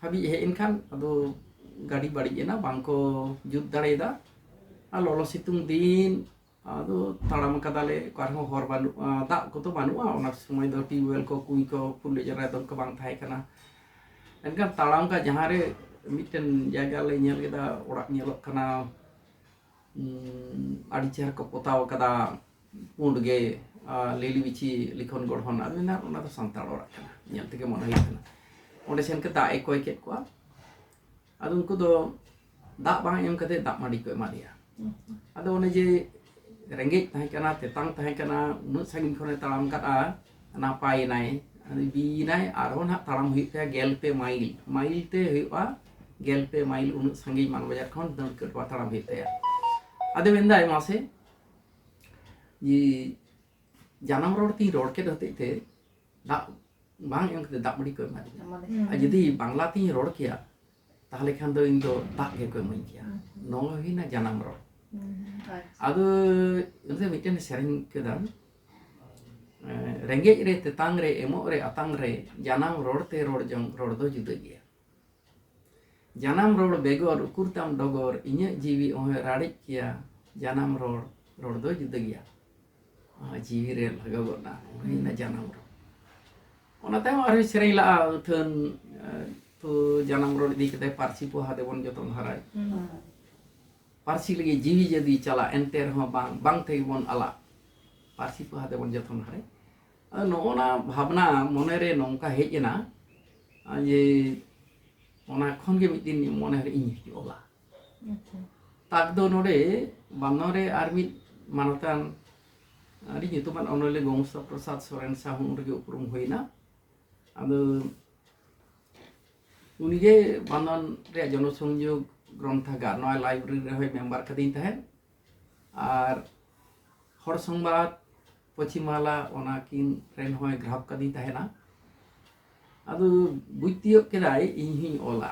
ᱦᱟᱹᱵᱤᱡ ᱦᱮᱡ ᱮᱱ ᱠᱷᱟᱱ ᱟᱫᱚ ᱜᱟᱹᱰᱤ ᱵᱟᱹᱲᱤᱡ ᱮᱱᱟ ᱵᱟᱝ ᱠᱚ ᱡᱩᱛ ᱫᱟᱲᱮᱭᱟᱫᱟ ᱟᱨ ᱞᱚᱞᱚ ᱥᱤᱛᱩᱝ ᱫᱤᱱ ᱟᱫᱚ ᱛᱟᱲᱟᱢ ᱠᱟᱫᱟᱞᱮ ᱚᱠᱟ ᱨᱮᱦᱚᱸ ᱦᱚᱨ ᱵᱟᱹᱱᱩᱜᱼᱟ ᱫᱟᱜ ᱠᱚᱫᱚ ᱵᱟᱹᱱᱩᱜᱼᱟ ᱚᱱᱟ ᱥᱚᱢᱚᱭ ᱫᱚ ᱴᱤᱭᱩᱵᱽᱣᱮᱞ ᱠᱚ ᱠᱩᱧ ᱠᱚ ᱯᱷᱩᱞᱮ ᱡᱟᱨᱟᱭ ᱫᱚ ᱚᱱᱠᱟ ᱵᱟᱝ ᱛᱟᱦᱮᱸ ᱠᱟᱱᱟ ᱮᱱᱠᱷᱟᱱ ᱛᱟᱲᱟᱢ ᱠᱟᱜ ᱡᱟᱦᱟᱸ ᱨᱮ ᱢᱤᱫᱴᱮᱱ ᱡᱟᱭᱜᱟ ᱞᱮ ᱧᱮᱞ ᱠᱮᱫᱟ ᱚᱲᱟᱜ ᱧᱮᱞᱚᱜ ᱠᱟᱱᱟ ᱟᱹᱰᱤ ᱪᱮᱦᱨᱟ ᱠᱚ ᱯᱚᱛᱟᱣ ᱟᱠᱟᱫᱟ ᱯᱩᱸᱰ ᱜᱮ ᱞᱤᱞᱤ ᱵᱤᱪᱷᱤ ᱞᱤᱠᱷᱚᱱ ᱜᱚᱲᱦᱚᱱ ᱟᱫᱚ ᱢᱮᱱᱟ ᱚᱱᱟ ᱫᱚ ᱥᱟᱱᱛᱟᱲ ᱚᱲᱟᱜ ᱠᱟᱱᱟ ᱧᱮᱞ ᱛᱮᱜᱮ ᱢᱚᱱᱮ ᱦᱩᱭᱩᱜ ᱠᱟᱱᱟ ᱚᱸᱰᱮ ᱥᱮᱱ ᱠᱟᱛᱮ ᱫᱟᱜ ᱮ ᱠᱚᱭ ᱠᱮᱫ ᱠᱚᱣᱟ ᱟᱫᱚ ᱩᱱᱠᱩ ᱫᱚ ᱫᱟᱜ ᱵᱟᱝ ᱮᱢ ᱠᱟᱛᱮ ᱫᱟᱜ ᱢᱟᱹᱰᱤ ᱠᱚ ᱮᱢᱟᱫᱮᱭᱟ ᱟᱫᱚ ᱚᱱᱮ ᱡᱮ ᱨᱮᱸᱜᱮᱡ ᱛᱟᱦᱮᱸ ᱠᱟᱱᱟ ᱛᱮᱛᱟᱝ ᱛᱟᱦᱮᱸ ᱠᱟᱱᱟ ᱩᱱᱟᱹᱜ ᱥᱟᱺᱜᱤᱧ ᱠᱷᱚᱱᱮ ᱛᱟᱲᱟᱢ ᱠᱟᱫᱼᱟ ᱱᱟᱯᱟᱭᱮᱱᱟᱭ ᱵᱤᱭᱮᱱᱟᱭ ᱟᱨᱦᱚᱸ ᱱᱟᱦᱟᱜ ᱛᱟᱲᱟᱢ ᱦᱩᱭᱩᱜ ᱛᱟᱭᱟ ᱜᱮᱞ ᱯᱮ ᱢᱟᱭᱤᱞ ᱢᱟᱭᱤᱞ ᱛᱮ ᱦᱩᱭᱩᱜᱼᱟ ᱜᱮᱞ ᱯᱮ ᱢᱟᱭᱤᱞ ᱩᱱᱟᱹᱜ ᱥᱟᱺᱜᱤᱧ ᱢᱟᱱᱵᱟᱡᱟᱨ ᱠᱷᱚᱱ ᱫᱟᱹᱲ ᱠᱟᱹᱴᱣᱟ ᱛᱟᱲᱟᱢ ᱦᱩᱭᱩᱜ ᱛᱟᱭᱟ ᱟᱫᱚ ᱢᱮᱱᱫᱟᱭ ᱢᱟᱥᱮ ᱡᱮ ᱡᱟᱱᱟᱢ ᱨᱚᱲ ᱛᱤᱧ ᱨᱚᱲ ᱠᱮᱫ ᱦᱚᱛᱮᱡ ᱛᱮ ᱫᱟᱜ ᱵᱟᱝ ᱮᱢ ᱠᱟᱛᱮ ᱫᱟᱜ ᱢᱟᱹᱰᱤ ᱠᱚ ᱮᱢᱟᱫᱤᱧᱟ ᱟᱨ ᱡᱩᱫᱤ ᱵᱟᱝᱞᱟ ᱛᱤᱧ ᱨᱚᱲ ᱠᱮᱭᱟ ᱛᱟᱦᱞᱮ ᱠᱷᱟᱱ ᱫᱚ ᱤᱧ ᱫᱚ ᱫᱟᱜ ᱜᱮ ᱠᱚ ᱤᱢᱟᱹᱧ ᱠᱮᱭᱟ ᱱᱚᱣᱟ ᱦᱩᱭᱱᱟ ᱡᱟᱱᱟᱢ ᱨᱚᱲ ᱟᱫᱚ ᱚᱱᱟᱛᱮ ᱢᱤᱫᱴᱮᱱ ᱥᱮᱨᱮᱧ ᱠᱮᱫᱟ ᱨᱮᱸᱜᱮᱡ ᱨᱮ ᱛᱮᱛᱟᱝ ᱨᱮ ᱮᱢᱚᱜ ᱨᱮ ᱟᱛᱟᱝ ᱨᱮ ᱡᱟᱱᱟᱢ ᱨᱚᱲ ᱛᱮ ᱨᱚᱲ ᱡᱚᱝ ᱨᱚᱲ ᱫᱚ ᱡᱩᱫᱟᱹ ᱜᱮᱭᱟ ᱡᱟᱱᱟᱢ ᱨᱚᱲ ᱵᱮᱜᱚᱨ ᱩᱠᱩᱨ ᱛᱟᱢ ᱰᱚᱜᱚᱨ ᱤᱧᱟᱹᱜ ᱡᱤᱣᱤ ᱚᱦᱚᱭ ᱨᱟᱲᱮᱡ ᱠᱮᱭᱟ ᱡᱟᱱᱟᱢ ᱨᱚᱲ ᱨᱚᱲ ᱫᱚ ᱡᱩᱫᱟᱹ ᱜᱮᱭᱟ ᱟᱨ ᱡᱤᱣᱤ ᱨᱮ ᱞᱟᱜᱟᱣ ᱜᱚᱫ ᱱᱟ ᱩᱱᱤ ᱱᱟ ᱡᱟᱱᱟᱢ ᱨᱚᱲ ᱚᱱᱟ ᱛᱟᱭᱚᱢ ᱟᱨᱦᱚᱸ ᱥᱮᱨᱮᱧ ᱞᱟᱜᱼᱟ ᱟᱹᱛᱷᱟᱹᱱ ᱛᱚ ᱡᱟᱱᱟᱢ ᱨᱚᱲ ᱤᱫᱤ ᱠᱟᱛᱮ ᱯᱟᱹᱨᱥᱤ ᱯᱚᱦᱟ ᱫᱮᱵᱚᱱ ᱡᱚᱛᱚᱱ ᱦᱟᱨᱟᱭ ᱯᱟᱹᱨᱥᱤ ᱞᱟᱹᱜᱤᱫ ᱡᱤᱣᱤ ᱡᱟᱹᱫᱤ ᱪᱟᱞᱟᱜ ᱮᱱᱛᱮ ᱨᱮᱦᱚᱸ ᱵᱟᱝ ᱵᱟᱝ ᱛᱮᱜᱮ ᱵᱚᱱ ᱟᱞᱟᱜ ᱯᱟᱹᱨᱥᱤ ᱯᱚᱦᱟ ᱫᱮᱵᱚᱱ ᱡᱚᱛᱚᱱ ᱦᱟᱨᱟᱭ ᱟᱫᱚ ᱱᱚᱜᱼᱚ ᱱᱟ ᱵᱷᱟᱵᱽᱱᱟ ᱢᱚᱱᱮ ᱨᱮ ᱱᱚᱝᱠᱟ ᱦᱮᱡ ᱮᱱᱟ ᱡᱮ ᱚᱱᱟ ᱠᱷᱚᱱ ᱜᱮ ᱢᱤᱫ ᱫᱤᱱ ᱢᱚᱱᱮ ᱨᱮ ᱤᱧ ᱚᱞᱟ ᱟᱪᱪᱷᱟ ᱛᱟᱠ ᱫᱚ ᱱᱚᱰᱮ ᱵᱟᱱᱫᱚᱣᱟᱱ ᱨᱮ ᱟᱨ ᱢᱤᱫ ᱢᱟᱱᱚᱛᱟᱱ ᱟᱹᱰᱤ ᱧᱩᱛᱩᱢᱟᱱ ᱚᱱᱚᱞᱤᱭᱟᱹ ᱜᱚᱝᱥᱟ ᱯᱨᱚᱥᱟᱫᱽ ᱥᱚᱨᱮᱱ ᱥᱟᱦᱚ ᱩᱱ ᱨᱮᱜᱮ ᱩᱯᱨᱩᱢ ᱦᱩᱭᱱᱟ ᱟᱫᱚ ᱩᱱᱤᱜᱮ ᱵᱟᱱᱫᱚᱣᱟᱱ ᱨᱮᱭᱟᱜ ᱡᱚᱱᱚᱥᱚᱝᱡᱳᱜᱽ ᱜᱨᱚᱱᱛᱷᱟᱜᱟᱨ ᱱᱚᱣᱟ ᱞᱟᱭᱵᱨᱮᱨᱤ ᱨᱮᱦᱚᱸᱭ ᱢᱮᱢᱵᱟᱨ ᱠᱟᱹᱫᱤᱧ ᱛᱟᱦᱮᱸᱫ ᱟᱨ ᱦᱚᱲ ᱥᱚᱝᱵᱟᱫ ᱯᱚᱪᱷᱤᱢ ᱵᱟᱝᱞᱟ ᱚᱱᱟ ᱠᱤᱱ ᱨᱮᱱ ᱦᱚᱸᱭ ᱜᱨᱟᱦᱚᱠ ᱠᱟᱹᱫᱤᱧ ᱛᱟᱦᱮᱱᱟ ᱟᱫᱚ ᱵᱩᱡᱽ ᱛᱤᱭᱳᱜ ᱠᱮᱫᱟᱭ ᱤᱧ ᱦᱚᱧ ᱚᱞᱟ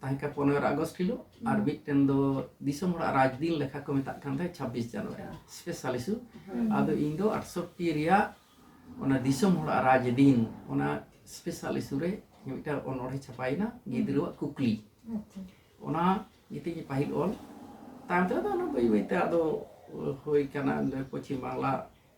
ᱛᱟᱦᱮᱸ ᱠᱟᱱᱟ ᱯᱚᱱᱮᱨᱚ ᱟᱜᱚᱥᱴ ᱦᱤᱞᱳᱜ ᱟᱨ ᱢᱤᱫᱴᱮᱱ ᱫᱚ ᱫᱤᱥᱚᱢ ᱦᱚᱲᱟᱜ ᱨᱟᱡᱽ ᱫᱤᱱ ᱞᱮᱠᱷᱟ ᱠᱚ ᱢᱮᱛᱟᱜ ᱠᱟᱱ ᱛᱟᱦᱮᱸᱫ ᱪᱷᱟᱵᱵᱤᱥ ᱡᱟᱱᱩᱣᱟᱨᱤ ᱥᱯᱮᱥᱟᱞ ᱤᱥᱩ ᱟᱫᱚ ᱤᱧ ᱫᱚ ᱟᱴᱥᱚᱴᱴᱤ ᱨᱮᱭᱟᱜ ᱚᱱᱟ ᱫᱤᱥᱚᱢ ᱦᱚᱲᱟᱜ ᱨᱟᱡᱽ ᱫᱤᱱ ᱚᱱᱟ ᱥᱯᱮᱥᱟᱞ ᱤᱥᱩ ᱨᱮ ᱢᱤᱫᱴᱟᱝ ᱚᱱᱚᱬᱦᱮ ᱪᱷᱟᱯᱟᱭᱮᱱᱟ ᱜᱤᱫᱽᱨᱟᱹᱣᱟᱜ ᱠᱩᱠᱞᱤ ᱚᱱᱟ ᱜᱮᱛᱤᱧ ᱯᱟᱹᱦᱤᱞ ᱚᱞ ᱛᱟᱭᱚᱢ ᱛᱮᱫᱚ ᱚᱱᱟ ᱵᱟᱹᱭ ᱵᱟᱹᱭᱛᱮ ᱟᱫᱚ ᱦᱩᱭ ᱠᱟᱱᱟ ᱯᱚᱪᱷᱤᱢ ᱵᱟᱝᱞᱟ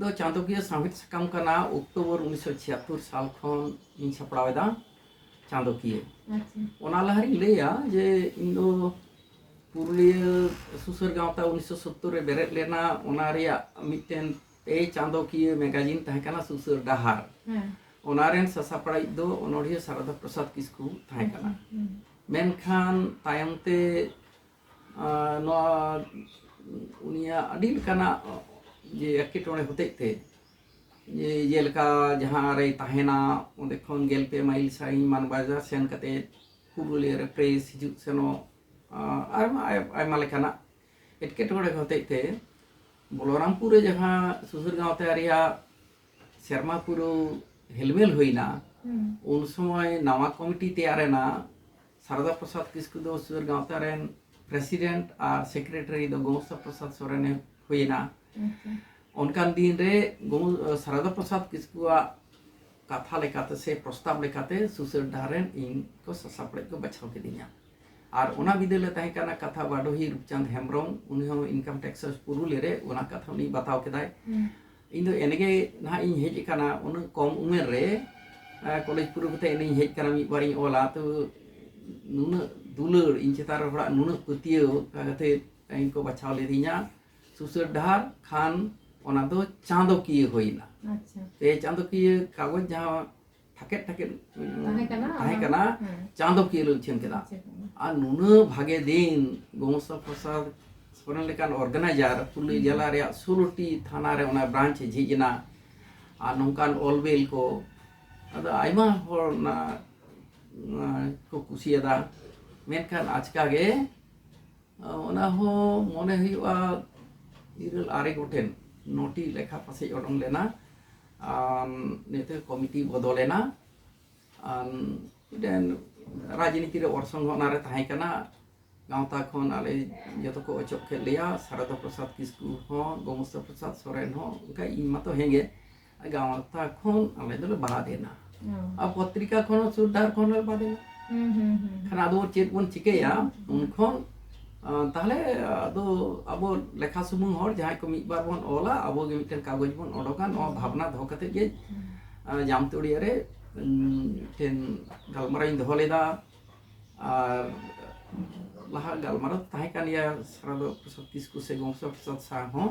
ᱫᱚ ᱪᱟᱸᱫᱚᱠᱤᱭᱟᱹ ᱥᱟᱶᱦᱮᱫ ᱥᱟᱠᱟᱢ ᱠᱟᱱᱟ ᱚᱠᱴᱳᱵᱚᱨ ᱩᱱᱤᱥ ᱥᱚ ᱪᱷᱤᱭᱟᱛᱛᱳᱨ ᱥᱟᱞ ᱠᱷᱚᱱ ᱤᱧ ᱥᱟᱯᱲᱟᱣ ᱮᱫᱟ ᱪᱟᱸᱫᱚᱠᱤᱭᱟᱹ ᱚᱱᱟ ᱞᱟᱦᱟᱨᱤᱧ ᱞᱟᱹᱭᱟ ᱡᱮ ᱤᱧ ᱫᱚ ᱯᱩᱨᱩᱞᱤᱭᱟᱹ ᱥᱩᱥᱟᱹᱨ ᱜᱟᱶᱛᱟ ᱩᱱᱤᱥ ᱥᱚ ᱥᱳᱛᱛᱳᱨ ᱨᱮ ᱵᱮᱨᱮᱫ ᱞᱮᱱᱟ ᱚᱱᱟ ᱨᱮᱭᱟᱜ ᱢᱤᱫᱴᱮᱱ ᱯᱮ ᱪᱟᱸᱫᱚᱠᱤᱭᱟᱹ ᱢᱮᱜᱟᱡᱤᱱ ᱛᱟᱦᱮᱸ ᱠᱟᱱᱟ ᱥᱩᱥᱟᱹᱨ ᱰᱟᱦᱟᱨ ᱚᱱᱟ ᱨᱮᱱ ᱥᱟᱥᱟᱯᱲᱟᱣᱤᱡ ᱫᱚ ᱚᱱᱚᱬᱦᱤᱭᱟᱹ ᱥᱟᱨᱚᱫᱟ ᱯᱨᱚᱥᱟᱫᱽ ᱠᱤᱥᱠᱩ ᱛᱟᱦᱮᱸ ᱠᱟᱱᱟ ᱢᱮᱱᱠᱷᱟᱱ ᱛᱟᱭᱚᱢ ᱛᱮ ᱱᱚᱣᱟ ᱩᱱᱤᱭᱟᱜ ᱟᱹᱰᱤ ᱞᱮᱠᱟᱱᱟᱜ ᱡᱮ ᱮᱴᱠᱮᱴᱚᱬᱮ ᱦᱚᱛᱮᱡ ᱛᱮ ᱡᱮ ᱡᱮᱞᱮᱠᱟ ᱡᱟᱦᱟᱸ ᱨᱮᱭ ᱛᱟᱦᱮᱱᱟ ᱚᱸᱰᱮ ᱠᱷᱚᱱ ᱜᱮᱞ ᱯᱮ ᱢᱟᱭᱤᱞ ᱥᱟᱺᱜᱤᱧ ᱢᱟᱱᱵᱟᱡᱟᱨ ᱥᱮᱱ ᱠᱟᱛᱮ ᱯᱩᱨᱩᱞᱤᱭᱟᱹ ᱨᱮ ᱯᱨᱮᱥ ᱦᱤᱡᱩᱜ ᱥᱮᱱᱚᱜ ᱟᱭᱢᱟ ᱟᱭᱢᱟ ᱞᱮᱠᱟᱱᱟᱜ ᱮᱴᱠᱮᱴᱚᱬᱮ ᱦᱚᱛᱮᱡ ᱛᱮ ᱵᱚᱞᱚᱨᱟᱢᱯᱩᱨ ᱨᱮ ᱡᱟᱦᱟᱸ ᱥᱩᱥᱩᱨ ᱜᱟᱶᱛᱟ ᱨᱮᱭᱟᱜ ᱥᱮᱨᱢᱟ ᱯᱩᱨᱟᱹᱣ ᱦᱮᱞᱢᱮᱞ ᱦᱩᱭᱱᱟ ᱩᱱ ᱥᱚᱢᱚᱭ ᱱᱟᱣᱟ ᱠᱚᱢᱤᱴᱤ ᱛᱮᱭᱟᱨᱮᱱᱟ ᱥᱟᱨᱚᱫᱟ ᱯᱨᱚᱥᱟᱫᱽ ᱠᱤᱥᱠᱩ ᱫᱚ ᱥᱩᱫᱷᱟᱹᱨ ᱜᱟᱶᱛᱟ ᱨᱮᱱ ᱯᱨᱮᱥᱤᱰᱮᱱᱴ ᱟᱨ ᱥᱮᱠᱨᱮᱴᱟᱨᱤ ᱫᱚ ᱜᱚᱢᱚᱥᱛᱟ ᱯᱨᱚᱥᱟᱫᱽ ᱥᱚᱨᱮᱱᱮ ᱦᱩᱭᱮᱱᱟ ᱚᱱᱠᱟᱱ ᱫᱤᱱ ᱨᱮ ᱥᱟᱨᱚᱫᱟ ᱯᱨᱚᱥᱟᱫᱽ ᱠᱤᱥᱠᱩᱣᱟᱜ ᱠᱟᱛᱷᱟ ᱞᱮᱠᱟᱛᱮ ᱥᱮ ᱯᱨᱚᱥᱛᱟᱵ ᱞᱮᱠᱟᱛᱮ ᱥᱩᱥᱟᱹᱨ ᱰᱟᱦᱟᱨ ᱨᱮᱱ ᱤᱧ ᱠᱚ ᱥᱟᱥᱟᱯᱲᱮᱡ ᱠᱚ ᱵᱟᱪᱷᱟᱣ ᱠᱤᱫᱤᱧᱟ ᱟᱨ ᱚᱱᱟ ᱵᱤᱫᱟᱹᱞ ᱨᱮ ᱛᱟᱦᱮᱸ ᱠᱟᱱᱟ ᱠᱟᱛᱷᱟ ᱵᱟᱰᱚᱦᱤ ᱨᱩᱯᱪᱟᱸᱫᱽ ᱦᱮᱢᱵᱨᱚᱢ ᱩᱱᱤ ᱦᱚᱸ ᱤᱱᱠᱟᱢ ᱴᱮᱠᱥ ᱯᱩᱨᱩᱞᱤᱭᱟᱹ ᱨᱮ ᱚᱱᱟ ᱠᱟᱛᱷᱟ ᱩᱱᱤ ᱵᱟᱛᱟᱣ ᱠᱮᱫᱟᱭ ᱤᱧ ᱫᱚ ᱮᱱᱮᱜᱮ ᱱᱟᱦᱟᱜ ᱤᱧ ᱦᱮᱡ ᱟᱠᱟᱱᱟ ᱩᱱᱟᱹᱜ ᱠᱚᱢ ᱩᱢᱮᱨ ᱨᱮ ᱠᱚᱞᱮᱡᱽ ᱯᱩᱨᱟᱹᱣ ᱠᱟᱛᱮ ᱮᱱᱮᱧ ᱦᱮᱡ ᱟᱠᱟᱱᱟ ᱢᱤᱫ ᱵᱟᱨᱤᱧ ᱚᱞᱟ ᱛᱚ ᱱᱩᱱᱟᱹᱜ ᱫᱩᱞᱟᱹᱲ ᱤᱧ ᱪᱮᱛᱟᱱ ᱨᱮ ᱦᱚᱲᱟᱜ ᱱᱩᱱᱟᱹᱜ ᱯᱟᱹᱛᱭᱟᱹᱣ ᱚᱱᱠᱟ ᱠᱟᱛᱮ ᱤᱧ ᱠᱚ ᱵᱟᱪᱷᱟᱣ ᱞᱤᱫᱤᱧᱟ ᱥᱩᱥᱟᱹᱨ ᱰᱟᱦᱟᱨ ᱠᱷᱟᱱ ᱚᱱᱟ ᱫᱚ ᱪᱟᱸᱫᱚᱠᱤᱭᱟᱹ ᱦᱩᱭᱮᱱᱟ ᱯᱮ ᱪᱟᱸᱫᱚᱠᱤᱭᱟᱹ ᱠᱟᱜᱚᱡᱽ ᱡᱟᱦᱟᱸ ᱛᱷᱟᱠᱮᱫ ᱛᱷᱟᱠᱮᱫ ᱛᱟᱦᱮᱸ ᱠᱟᱱᱟ ᱛᱟᱦᱮᱸ ᱠᱟᱱᱟ ᱪᱟᱸᱫᱚ ᱠᱤᱭᱟᱹ ᱞᱮ ᱩᱪᱷᱟᱹᱱ ᱠᱮᱫᱟ ᱟᱨ ᱱᱩᱱᱟᱹᱜ ᱵᱷᱟᱜᱮ ᱫᱤᱱ ᱜᱚᱝᱥᱟ ᱯᱨᱚᱥᱟᱫᱽ ᱥᱚᱨᱮᱱ ᱞᱮᱠᱟᱱ ᱚᱨᱜᱟᱱᱟᱭᱡᱟᱨ ᱯᱩᱨᱩᱞᱤᱭᱟᱹ ᱡᱮᱞᱟ ᱨᱮᱭᱟᱜ ᱥᱳᱞᱳᱴᱤ ᱛᱷᱟᱱᱟ ᱨᱮ ᱚᱱᱟ ᱵᱨᱟᱱᱪ ᱮ ᱡᱷᱤᱡ ᱮᱱᱟ ᱟᱨ ᱱᱚᱝᱠᱟᱱ ᱚᱞᱵᱮᱞ ᱠᱚ ᱟᱫᱚ ᱟᱭᱢᱟ ᱦᱚᱲ ᱚᱱᱟ ᱠᱚ ᱠᱩᱥᱤᱭᱟᱫᱟ ᱢᱮᱱᱠᱷᱟᱱ ᱟᱪᱠᱟ ᱜᱮ ᱚᱱᱟ ᱦᱚᱸ ᱢᱚᱱᱮ ᱦᱩᱭᱩᱜᱼᱟ ᱤᱨᱟᱹᱞ ᱟᱨᱮ ᱜᱚᱴᱮᱱ ᱱᱚᱴᱤ ᱞᱮᱠᱷᱟ ᱯᱟᱥᱮᱡ ᱚᱰᱚᱝ ᱞᱮᱱᱟ ᱱᱤᱛᱚᱜ ᱠᱚᱢᱤᱴᱤ ᱵᱚᱫᱚᱞ ᱮᱱᱟ ᱢᱤᱫᱴᱮᱱ ᱨᱟᱡᱽᱱᱤᱛᱤ ᱨᱮ ᱚᱨᱥᱚᱝ ᱦᱚᱸ ᱚᱱᱟᱨᱮ ᱛᱟᱦᱮᱸ ᱠᱟᱱᱟ ᱜᱟᱶᱛᱟ ᱠᱷᱚᱱ ᱟᱞᱮ ᱡᱚᱛᱚ ᱠᱚ ᱚᱪᱚᱜ ᱠᱮᱫ ᱞᱮᱭᱟ ᱥᱟᱨᱚᱫᱟ ᱯᱨᱚᱥᱟᱫᱽ ᱠᱤᱥᱠᱩ ᱦᱚᱸ ᱜᱳᱢᱚᱥᱛᱟ ᱯᱨᱚᱥᱟᱫᱽ ᱥᱚᱨᱮᱱ ᱦᱚᱸ ᱚᱱᱠᱟ ᱤᱧ ᱢᱟᱛᱚ ᱦᱮᱸᱜᱮ ᱜᱟᱶᱛᱟ ᱠᱷᱚᱱ ᱟᱞᱮ ᱫᱚᱞᱮ ᱵᱟᱫ ᱮᱱᱟ ᱟᱨ ᱯᱚᱛᱨᱤᱠᱟ ᱠᱷᱚᱱ ᱦᱚᱸ ᱥᱩᱨ ᱰᱟᱦᱟᱨ ᱠᱷᱚᱱ ᱦᱚᱸ ᱵᱟᱫᱮᱱᱟ ᱠᱷᱟᱱ ᱟᱫᱚ ᱪᱮᱫ ᱵᱚᱱ ᱪᱤᱠᱟᱹᱭᱟ ᱩᱱ ᱠᱷᱚᱱ ᱛᱟᱦᱞᱮ ᱟᱫᱚ ᱟᱵᱚ ᱞᱮᱠᱷᱟ ᱥᱩᱢᱩᱝ ᱦᱚᱲ ᱡᱟᱦᱟᱸᱭ ᱠᱚ ᱢᱤᱫ ᱵᱟᱨ ᱵᱚᱱ ᱚᱞᱟ ᱟᱵᱚ ᱜᱮ ᱢᱤᱫᱴᱮᱱ ᱠᱟᱜᱚᱡᱽ ᱵᱚᱱ ᱚᱰᱚᱠᱟ ᱱᱚᱣᱟ ᱵᱷᱟᱵᱽᱱᱟ ᱫᱚᱦᱚ ᱠᱟᱛᱮ ᱜᱮ ᱡᱟᱢᱛᱩᱲᱤᱭᱟᱹ ᱨᱮ ᱢᱤᱫᱴᱮᱱ ᱜᱟᱞᱢᱟᱨᱟᱣ ᱤᱧ ᱫᱚᱦᱚ ᱞᱮᱫᱟ ᱟᱨ ᱞᱟᱦᱟ ᱜᱟᱞᱢᱟᱨᱟᱣ ᱛᱟᱦᱮᱸ ᱠᱟᱱ ᱜᱮᱭᱟ ᱥᱟᱨᱟᱫᱚ ᱯᱨᱚᱥᱟᱫᱽ ᱠᱤᱥᱠᱩ ᱥᱮ ᱜᱚᱝᱥᱚ ᱯᱨᱚᱥᱟᱫᱽ ᱥᱟᱶ ᱦᱚᱸ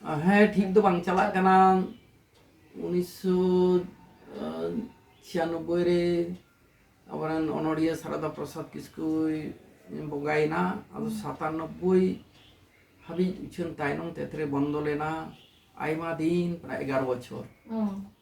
ᱦᱮᱸ ᱴᱷᱤᱠ ᱫᱚ ᱵᱟᱝ ᱪᱟᱞᱟᱜ ᱠᱟᱱᱟ ᱩᱱᱤᱥᱥᱚ ᱪᱷᱤᱭᱟᱱᱚᱵᱵᱳᱭ ᱨᱮ ᱟᱵᱚᱨᱮᱱ ᱚᱱᱚᱲᱤᱭᱟᱹ ᱥᱟᱨᱟᱫᱟ ᱯᱨᱚᱥᱟᱫᱽ ᱠᱤᱥᱠᱩᱭ ᱵᱚᱸᱜᱟᱭᱮᱱᱟ ᱟᱫᱚ ᱥᱟᱛᱟᱱᱚᱵᱵᱳᱭ ᱦᱟᱹᱵᱤᱡ ᱩᱪᱷᱟᱹᱱ ᱛᱟᱭᱱᱚᱢ ᱛᱮᱛᱨᱮ ᱵᱚᱱᱫᱚ ᱞᱮᱱᱟ ᱟᱭᱢᱟ ᱫᱤᱱ ᱯᱨᱟᱭ ᱮᱜᱟᱨᱚ ᱵᱚᱪᱷᱚᱨ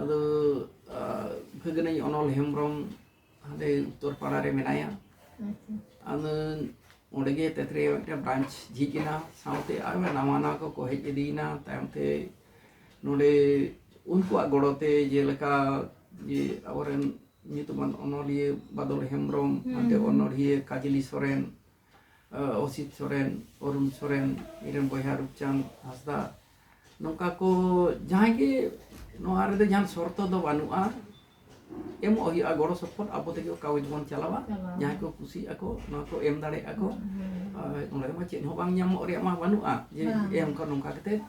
ᱟᱫᱚ ᱵᱷᱟᱹᱜᱽᱱᱟᱹᱧ ᱚᱱᱚᱞ ᱦᱮᱢᱵᱨᱚᱢ ᱦᱟᱸᱰᱮ ᱩᱛᱛᱚᱨ ᱯᱟᱲᱟ ᱨᱮ ᱢᱮᱱᱟᱭᱟ ᱟᱫᱚ ᱚᱸᱰᱮ ᱜᱮ ᱛᱮᱛ ᱨᱮᱭᱟᱜ ᱢᱤᱫᱴᱮᱱ ᱵᱨᱟᱧᱪ ᱡᱷᱤᱡ ᱮᱱᱟ ᱥᱟᱶᱛᱮ ᱟᱨ ᱱᱟᱣᱟ ᱱᱟᱣᱟ ᱠᱚᱠᱚ ᱦᱮᱡ ᱤᱫᱤᱭᱮᱱᱟ ᱛᱟᱭᱚᱢ ᱛᱮ ᱱᱚᱰᱮ ᱩᱱᱠᱩᱣᱟᱜ ᱜᱚᱲᱚ ᱛᱮ ᱡᱮᱞᱮᱠᱟ ᱡᱮ ᱟᱵᱚᱨᱮᱱ ᱧᱩᱛᱩᱢᱟᱱ ᱚᱱᱚᱞᱤᱭᱟᱹ ᱵᱟᱫᱚᱞ ᱦᱮᱢᱵᱨᱚᱢ ᱦᱟᱱᱛᱮ ᱚᱱᱚᱲᱦᱤᱭᱟᱹ ᱠᱟᱡᱽᱞᱤ ᱥᱚᱨᱮᱱ ᱚᱥᱤᱛ ᱥᱚᱨᱮᱱ ᱚᱨᱩᱱ ᱥᱚᱨᱮᱱ ᱤᱧᱨᱮᱱ ᱵᱚᱭᱦᱟ ᱨᱩᱯᱪᱟᱸᱫᱽ ᱦᱟᱸᱥᱫᱟ ᱱᱚᱝᱠᱟ ᱠᱚ ᱡᱟᱦᱟᱸᱭ ᱜᱮ ᱱᱚᱣᱟ ᱨᱮᱫᱚ ᱡᱟᱦᱟᱱ ᱥᱚᱨᱛᱚ ᱫᱚ ᱵᱟᱹᱱᱩᱜᱼᱟ ᱮᱢᱚᱜ ᱦᱩᱭᱩᱜᱼᱟ ᱜᱚᱲᱚ ᱥᱚᱯᱚᱦᱚᱫ ᱟᱵᱚ ᱛᱮᱜᱮ ᱠᱟᱜᱚᱡᱽ ᱵᱚᱱ ᱪᱟᱞᱟᱣᱟ ᱡᱟᱦᱟᱸᱭ ᱠᱚ ᱠᱩᱥᱤᱜ ᱟᱠᱚ ᱱᱚᱣᱟ ᱠᱚ ᱮᱢ ᱫᱟᱲᱮᱭᱟᱜ ᱟᱠᱚ ᱚᱸᱰᱮ ᱢᱟ ᱪᱮᱫ ᱦᱚᱸ ᱵᱟᱝ ᱧᱟᱢᱚᱜ ᱨᱮᱭᱟᱜ ᱢᱟ ᱵᱟᱹᱱᱩᱜᱼᱟ ᱡᱮ ᱮᱢ ᱠᱚ ᱱᱚᱝᱠᱟ ᱠᱟᱛᱮᱫ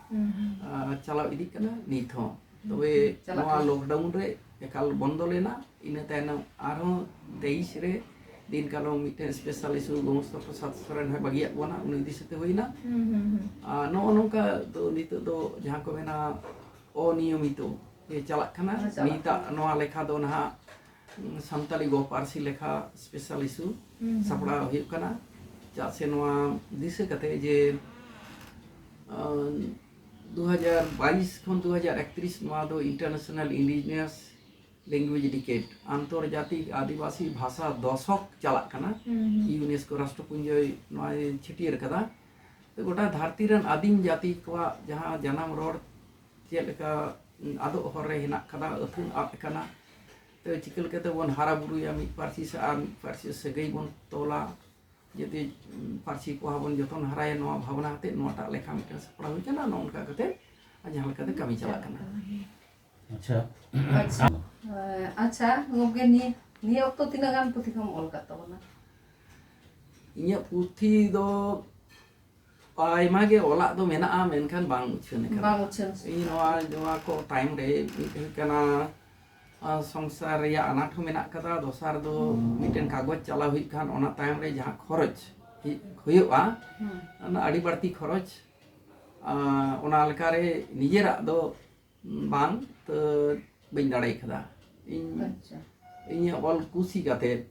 ᱪᱟᱞᱟᱣ ᱤᱫᱤᱜ ᱠᱟᱱᱟ ᱱᱤᱛ ᱦᱚᱸ ᱛᱚᱵᱮ ᱱᱚᱣᱟ ᱞᱚᱠᱰᱟᱣᱩᱱ ᱨᱮ ᱮᱠᱟᱞ ᱵᱚᱱᱫᱚ ᱞᱮᱱᱟ ᱤᱱᱟᱹ ᱛᱟᱭᱱᱚᱢ ᱟᱨᱦᱚᱸ ᱛᱮᱭᱤᱥ ᱨᱮ ᱫᱤᱱ ᱠᱟᱞᱚᱢ ᱢᱤᱫᱴᱮᱱ ᱥᱯᱮᱥᱟᱞ ᱤᱥᱩ ᱜᱚᱢᱚᱥᱛᱟ ᱯᱨᱚᱥᱟᱫ ᱥᱚᱨᱮᱱ ᱦᱚᱸ ᱵᱟᱹᱜᱤᱭᱟᱜ ᱵᱚᱱᱟ ᱩᱱᱤ ᱤᱫᱤ ᱥᱟᱛᱮ ᱦᱩᱭᱱᱟ ᱟᱨ ᱱᱚᱜᱼᱚ ᱱᱚᱝᱠᱟ ᱫᱚ ᱱᱤᱛᱚᱜ ᱫᱚ ᱡᱟᱦᱟᱸ ᱠᱚ ᱢᱮᱱᱟ ᱚᱱᱤᱭᱚᱢᱤᱛᱚ ᱪᱟᱞᱟᱜ ᱠᱟᱱᱟ ᱱᱤᱛᱟᱜ ᱱᱚᱣᱟ ᱞᱮᱠᱷᱟ ᱫᱚ ᱱᱟᱦᱟᱜ ᱥᱟᱱᱛᱟᱲᱤ ᱜᱚ ᱯᱟᱹᱨᱥᱤ ᱞᱮᱠᱷᱟ ᱥᱯᱮᱥᱟᱞ ᱤᱥᱩ ᱥᱟᱯᱲᱟᱣ ᱦᱩᱭᱩᱜ ᱠᱟᱱᱟ ᱪᱮᱫᱟᱜ ᱥᱮ ᱱᱚᱣᱟ ᱫᱤᱥᱟᱹ ᱠᱟᱛᱮ ᱡᱮ ᱫᱩ ᱦᱟᱡᱟᱨ ᱵᱟᱭᱤᱥ ᱠᱷᱚᱱ ᱫᱩ ᱦᱟᱡᱟᱨ ᱮᱠᱛᱨᱤᱥ ᱱᱚᱣᱟ ᱫᱚ ᱤᱱᱴᱟᱨᱱᱮᱥᱱᱟᱞ ᱤᱱᱰᱤᱡᱤᱱᱤᱭᱟᱥ ᱞᱮᱝᱜᱩᱭᱮᱡᱽ ᱰᱤᱠᱮᱴ ᱟᱱᱛᱚᱨᱡᱟᱛᱤᱠ ᱟᱹᱫᱤᱵᱟᱹᱥᱤ ᱵᱷᱟᱥᱟ ᱫᱚᱥᱚᱠ ᱪᱟᱞᱟᱜ ᱠᱟᱱᱟ ᱤᱭᱩᱱᱮᱥᱠᱳ ᱨᱟᱥᱴᱨᱚᱯᱩᱧᱡᱚᱭ ᱱᱚᱣᱟ ᱪᱷᱟᱹᱴᱭᱟᱹᱨ ᱠᱟᱫᱟ ᱜᱚᱴᱟ ᱫᱷᱟᱹᱨᱛᱤ ᱨᱮᱱ ᱟᱹᱫᱤᱢ ᱡᱟᱹᱛᱤ ᱠᱚᱣᱟᱜ ᱡᱟᱦᱟᱸ ᱡᱟᱱᱟᱢ ᱨᱚᱲ ᱪᱮᱫ ᱞᱮᱠᱟ ᱟᱫᱚᱜ ᱦᱚᱨ ᱨᱮ ᱦᱮᱱᱟᱜ ᱠᱟᱫᱟ ᱟᱹᱛᱷᱟᱹᱱ ᱟᱫ ᱟᱠᱟᱱᱟ ᱛᱚ ᱪᱤᱠᱟᱹ ᱞᱮᱠᱟᱛᱮ ᱵᱚᱱ ᱦᱟᱨᱟ ᱵᱩᱨᱩᱭᱟ ᱢᱤᱫ ᱯᱟᱹᱨᱥᱤ ᱥᱮ ᱟᱨ ᱢᱤᱫ ᱯᱟᱹᱨᱥᱤ ᱥᱟᱹᱜᱟᱹᱭ ᱵᱚᱱ ᱛᱚᱞᱟ ᱡᱩᱫᱤ ᱯᱟᱹᱨᱥᱤ ᱯᱚᱦᱟ ᱵᱚᱱ ᱡᱚᱛᱚᱱ ᱦᱟᱨᱟᱭᱟ ᱱᱚᱣᱟ ᱵᱷᱟᱵᱽᱱᱟ ᱠᱟᱛᱮ ᱱᱚᱣᱟᱴᱟᱜ ᱞᱮᱠᱷᱟ ᱢᱤᱫᱴᱟᱝ ᱥᱟᱯᱲᱟᱣ ᱦᱩᱭ ᱠᱟᱱᱟ ᱱᱚᱜᱼᱚ ᱱᱚᱝᱠᱟ ᱠᱟᱛᱮ ᱡᱟᱦᱟᱸ ᱞᱮᱠᱟᱛᱮ ᱠᱟᱹᱢᱤ ᱪᱟᱞᱟᱜ ᱠᱟᱱᱟ ᱟᱪᱪᱷᱟ ᱟᱪᱪᱷᱟ ᱟᱪᱪᱷᱟ ᱜᱚᱢᱠᱮ ᱱᱤᱭᱟᱹ ᱱᱤᱭᱟᱹ ᱚᱠᱛᱚ ᱛᱤᱱᱟᱹᱜ ᱜᱟᱱ ᱯᱩᱛᱷᱤ ᱠᱚᱢ ᱚᱞ ᱠᱟᱫ ᱛᱟᱵᱚᱱᱟ ᱤᱧᱟᱹᱜ ᱯᱩᱛᱷᱤ ᱫᱚ ᱟᱭᱢᱟ ᱜᱮ ᱚᱞᱟᱜ ᱫᱚ ᱢᱮᱱᱟᱜᱼᱟ ᱢᱮᱱᱠᱷᱟᱱ ᱵᱟᱝ ᱩᱪᱷᱟᱹᱱ ᱟᱠᱟᱱᱟ ᱵᱟᱝ ᱩᱪᱷᱟᱹᱱ ᱤᱧ ᱱᱚᱣᱟ ᱱᱚᱣᱟ ᱠᱚ ᱛᱟᱭᱚᱢ ᱨᱮ ᱢᱤᱫ ᱦᱩᱭᱩᱜ ᱠᱟᱱᱟ ᱥᱚᱝᱥᱟᱨ ᱨᱮᱭᱟᱜ ᱟᱱᱟᱴ ᱦᱚᱸ ᱢᱮᱱᱟᱜ ᱠᱟᱫᱟ ᱫᱚᱥᱟᱨ ᱫᱚ ᱢᱤᱫᱴᱮᱱ ᱠᱟᱜᱚᱡᱽ ᱪᱟᱞᱟᱣ ᱦᱩᱭᱩᱜ ᱠᱷᱟᱱ ᱚᱱᱟ ᱛᱟᱭᱚᱢ ᱨᱮ ᱡᱟᱦᱟᱸ ᱠᱷᱚᱨᱚᱪ ᱦᱩᱭᱩᱜᱼᱟ ᱚᱱᱟ ᱟᱹᱰᱤ ᱵᱟᱹᱲᱛᱤ ᱠᱷᱚᱨᱚᱪ ᱚᱱᱟ ᱞᱮᱠᱟᱨᱮ ᱱᱤᱡᱮᱨᱟᱜ ᱫᱚ ᱵᱟᱝ ᱛᱚ ᱵᱟᱹᱧ ᱫᱟᱲᱮ ᱠᱟᱫᱟ ᱤᱧ ᱤᱧᱟᱹᱜ ᱚᱞ ᱠᱩᱥᱤ ᱠᱟᱛᱮᱫ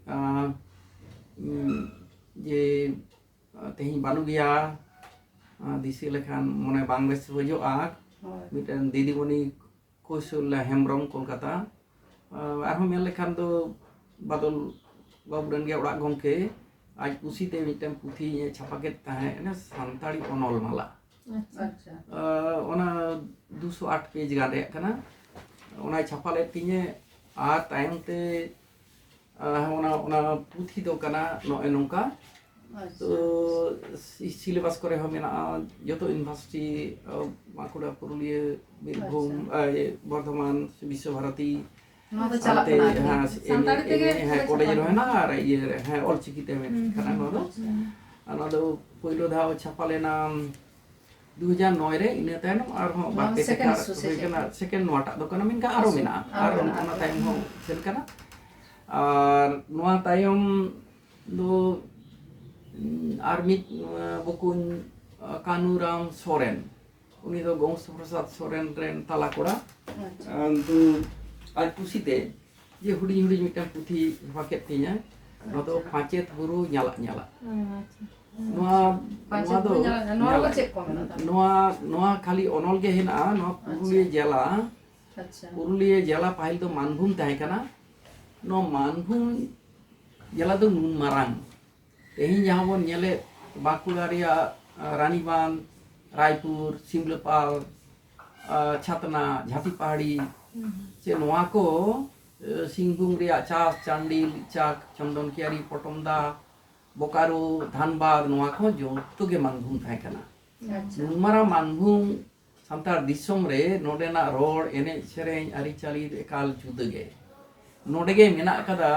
ᱡᱮ ᱛᱮᱦᱮᱧ ᱵᱟᱹᱱᱩᱜ ᱜᱮᱭᱟ ᱫᱤᱥᱟᱹ ᱞᱮᱠᱷᱟᱱ ᱢᱚᱱᱮ ᱵᱟᱝ ᱵᱮᱥ ᱵᱩᱡᱷᱟᱹᱜᱼᱟ ᱢᱤᱫᱴᱮᱱ ᱫᱤᱫᱤᱢᱚᱱᱤ ᱠᱳᱥᱚᱞ ᱦᱮᱢᱵᱨᱚᱢ ᱠᱳᱞᱠᱟᱛᱟ ᱟᱨᱦᱚᱸ ᱢᱮᱱ ᱞᱮᱠᱷᱟᱱ ᱫᱚ ᱵᱟᱫᱚᱞ ᱵᱟᱵᱩ ᱨᱮᱱ ᱜᱮ ᱚᱲᱟᱜ ᱜᱚᱢᱠᱮ ᱟᱡ ᱠᱩᱥᱤᱛᱮ ᱢᱤᱫᱴᱮᱱ ᱯᱩᱛᱷᱤ ᱪᱷᱟᱯᱟ ᱠᱮᱫ ᱛᱟᱦᱮᱸᱫ ᱥᱟᱱᱛᱟᱲᱤ ᱚᱱᱚᱞ ᱢᱟᱞᱟ ᱚᱱᱟ ᱫᱩᱥᱚ ᱟᱴ ᱯᱮᱡᱽ ᱜᱟᱱ ᱨᱮᱭᱟᱜ ᱠᱟᱱᱟ ᱚᱱᱟᱭ ᱪᱷᱟᱯᱟ ᱞᱮᱫ ᱛᱤᱧᱟᱹ ᱟᱨ ᱛᱟᱭᱚᱢ ᱛᱮ ᱚᱱᱟ ᱚᱱᱟ ᱯᱩᱛᱷᱤ ᱫᱚ ᱠᱟᱱᱟ ᱱᱚᱜᱼᱚᱭ ᱱᱚᱝᱠᱟ ᱛᱚ ᱥᱤᱞᱮᱵᱟᱥ ᱠᱚᱨᱮ ᱦᱚᱸ ᱢᱮᱱᱟᱜᱼᱟ ᱡᱚᱛᱚ ᱤᱭᱩᱱᱤᱵᱷᱟᱨᱥᱤᱴᱤ ᱵᱟᱸᱠᱩᱲᱟ ᱯᱩᱨᱩᱞᱤᱭᱟᱹ ᱵᱤᱨᱵᱷᱩᱢ ᱵᱚᱨᱫᱷᱚᱢᱟᱱ ᱵᱤᱥᱥᱚ ᱵᱷᱟᱨᱚᱛᱤ ᱱᱚᱣᱟ ᱫᱚ ᱪᱟᱞᱟᱜ ᱠᱟᱱᱟ ᱦᱮᱸ ᱥᱟᱱᱛᱟᱲᱤ ᱛᱮᱜᱮ ᱦᱮᱸ ᱠᱚᱞᱮᱡᱽ ᱨᱮ ᱦᱮᱱᱟᱜ ᱟᱨ ᱤᱭᱟᱹ ᱨᱮ ᱦᱮᱸ ᱚᱞ ᱪᱤᱠᱤ ᱛᱮ ᱢᱮᱱᱟᱜ ᱠᱟᱱᱟ ᱱᱚᱣᱟ ᱫᱚ ᱱᱚᱣᱟ ᱫᱚ ᱯᱳᱭᱞᱳ ᱫᱷᱟᱣ ᱪᱷᱟᱯᱟ ᱞᱮᱱᱟ ᱫᱩ ᱦᱟᱡᱟᱨ ᱱᱚᱭ ᱨᱮ ᱤᱱᱟᱹ ᱛᱟᱭᱱᱚᱢ ᱟᱨᱦᱚᱸ ᱵᱟᱨ ᱯᱮ ᱴᱮᱠᱟ ᱦᱩᱭ ᱠᱟᱱᱟ ᱥᱮᱠᱮᱱᱰ ᱱᱚᱣᱟᱴᱟᱜ ᱫᱚ ᱠᱟᱱᱟ ᱢᱮᱱᱠᱷᱟᱱ ᱟᱨᱚ ᱢᱮᱱᱟᱜᱼᱟ ᱟᱨ ᱚᱱᱟ ᱛᱟᱭᱚᱢ ᱦᱚᱸ ᱥᱮᱱ ᱠᱟᱱᱟ ᱟᱨ ᱱᱚᱣᱟ ᱛᱟᱭᱚᱢ ᱫᱚ ᱟᱨ ᱢᱤᱫ ᱵᱚᱠᱩᱧ ᱠᱟᱱᱩᱨᱟᱢ ᱥᱚᱨᱮᱱ ᱩᱱᱤ ᱫᱚ ᱜᱚᱝᱥᱚ ᱯᱨᱚᱥᱟᱫ ᱥᱚᱨᱮᱱ ᱨᱮᱱ ᱛᱟᱞᱟ ᱠᱚᱲᱟ ᱫᱚ ᱟᱡ ᱠᱩᱥᱤᱛᱮ ᱡᱮ ᱦᱩᱰᱤᱧ ᱦᱩᱰᱤᱧ ᱢᱤᱫᱴᱟᱝ ᱯᱩᱛᱷᱤ ᱦᱚᱦᱚ ᱠᱮᱫ ᱛᱤᱧᱟ ᱱᱚᱣᱟ ᱫᱚ ᱯᱟᱸᱪᱮᱛ ᱵᱩᱨᱩ ᱧᱟᱞᱟᱜ ᱧᱟᱞᱟᱜ ᱱᱚᱣᱟ ᱱᱚᱣᱟ ᱫᱚ ᱱᱚᱣᱟ ᱱᱚᱣᱟ ᱠᱷᱟᱹᱞᱤ ᱚᱱᱚᱞ ᱜᱮ ᱦᱮᱱᱟᱜᱼᱟ ᱱᱚᱣᱟ ᱯᱩᱨᱩᱞᱤᱭᱟᱹ ᱡᱮᱞᱟ ᱯᱩᱨᱩᱞᱤᱭᱟᱹ ᱡᱮᱞᱟ ᱯᱟᱹᱦᱤᱞ ᱫᱚ ᱢᱟᱱᱵᱷᱩᱢ ᱛᱟᱦᱮᱸ ᱠᱟᱱᱟ ᱱᱚᱣᱟ ᱢᱟᱱᱵᱷᱩᱢ ᱡᱮᱞᱟ ᱫᱚ ᱱᱩᱱ ᱢᱟᱨᱟᱝ ᱛᱮᱦᱮᱧ ᱡᱟᱦᱟᱸ ᱵᱚᱱ ᱧᱮᱞᱮᱫ ᱵᱟᱸᱠᱩᱲᱟ ᱨᱮᱭᱟᱜ ᱨᱟᱱᱤᱵᱟᱸᱫᱷ ᱨᱟᱭᱯᱩᱨ ᱥᱤᱢᱞᱟᱹᱯᱟᱞ ᱪᱷᱟᱛᱱᱟ ᱡᱷᱟᱹᱴᱤ ᱯᱟᱦᱟᱲᱤ ᱥᱮ ᱱᱚᱣᱟ ᱠᱚ ᱥᱤᱝᱵᱷᱩᱢ ᱨᱮᱭᱟᱜ ᱪᱟᱥ ᱪᱟᱱᱰᱤᱞ ᱪᱟᱠ ᱪᱚᱱᱫᱚᱱ ᱠᱤᱭᱟᱨᱤ ᱯᱚᱴᱚᱢᱫᱟ ᱵᱚᱠᱟᱨᱳ ᱫᱷᱟᱱᱵᱟᱫᱽ ᱱᱚᱣᱟ ᱠᱚ ᱡᱚᱛᱚ ᱜᱮ ᱢᱟᱱᱵᱷᱩᱢ ᱛᱟᱦᱮᱸ ᱠᱟᱱᱟ ᱱᱩᱱᱢᱟᱨᱟ ᱢᱟᱱᱵᱷᱩᱢ ᱥᱟᱱᱛᱟᱲ ᱫᱤᱥᱚᱢ ᱨᱮ ᱱᱚᱰᱮᱱᱟᱜ ᱨᱚᱲ ᱮᱱᱮᱡ ᱥᱮᱨᱮᱧ ᱟᱹᱨᱤᱪᱟᱹᱞᱤ ᱮᱠᱟᱞ ᱡᱩᱫᱟᱹ ᱜᱮ ᱱᱚᱰᱮ ᱜᱮ ᱢᱮᱱᱟᱜ ᱟᱠᱟᱫᱟ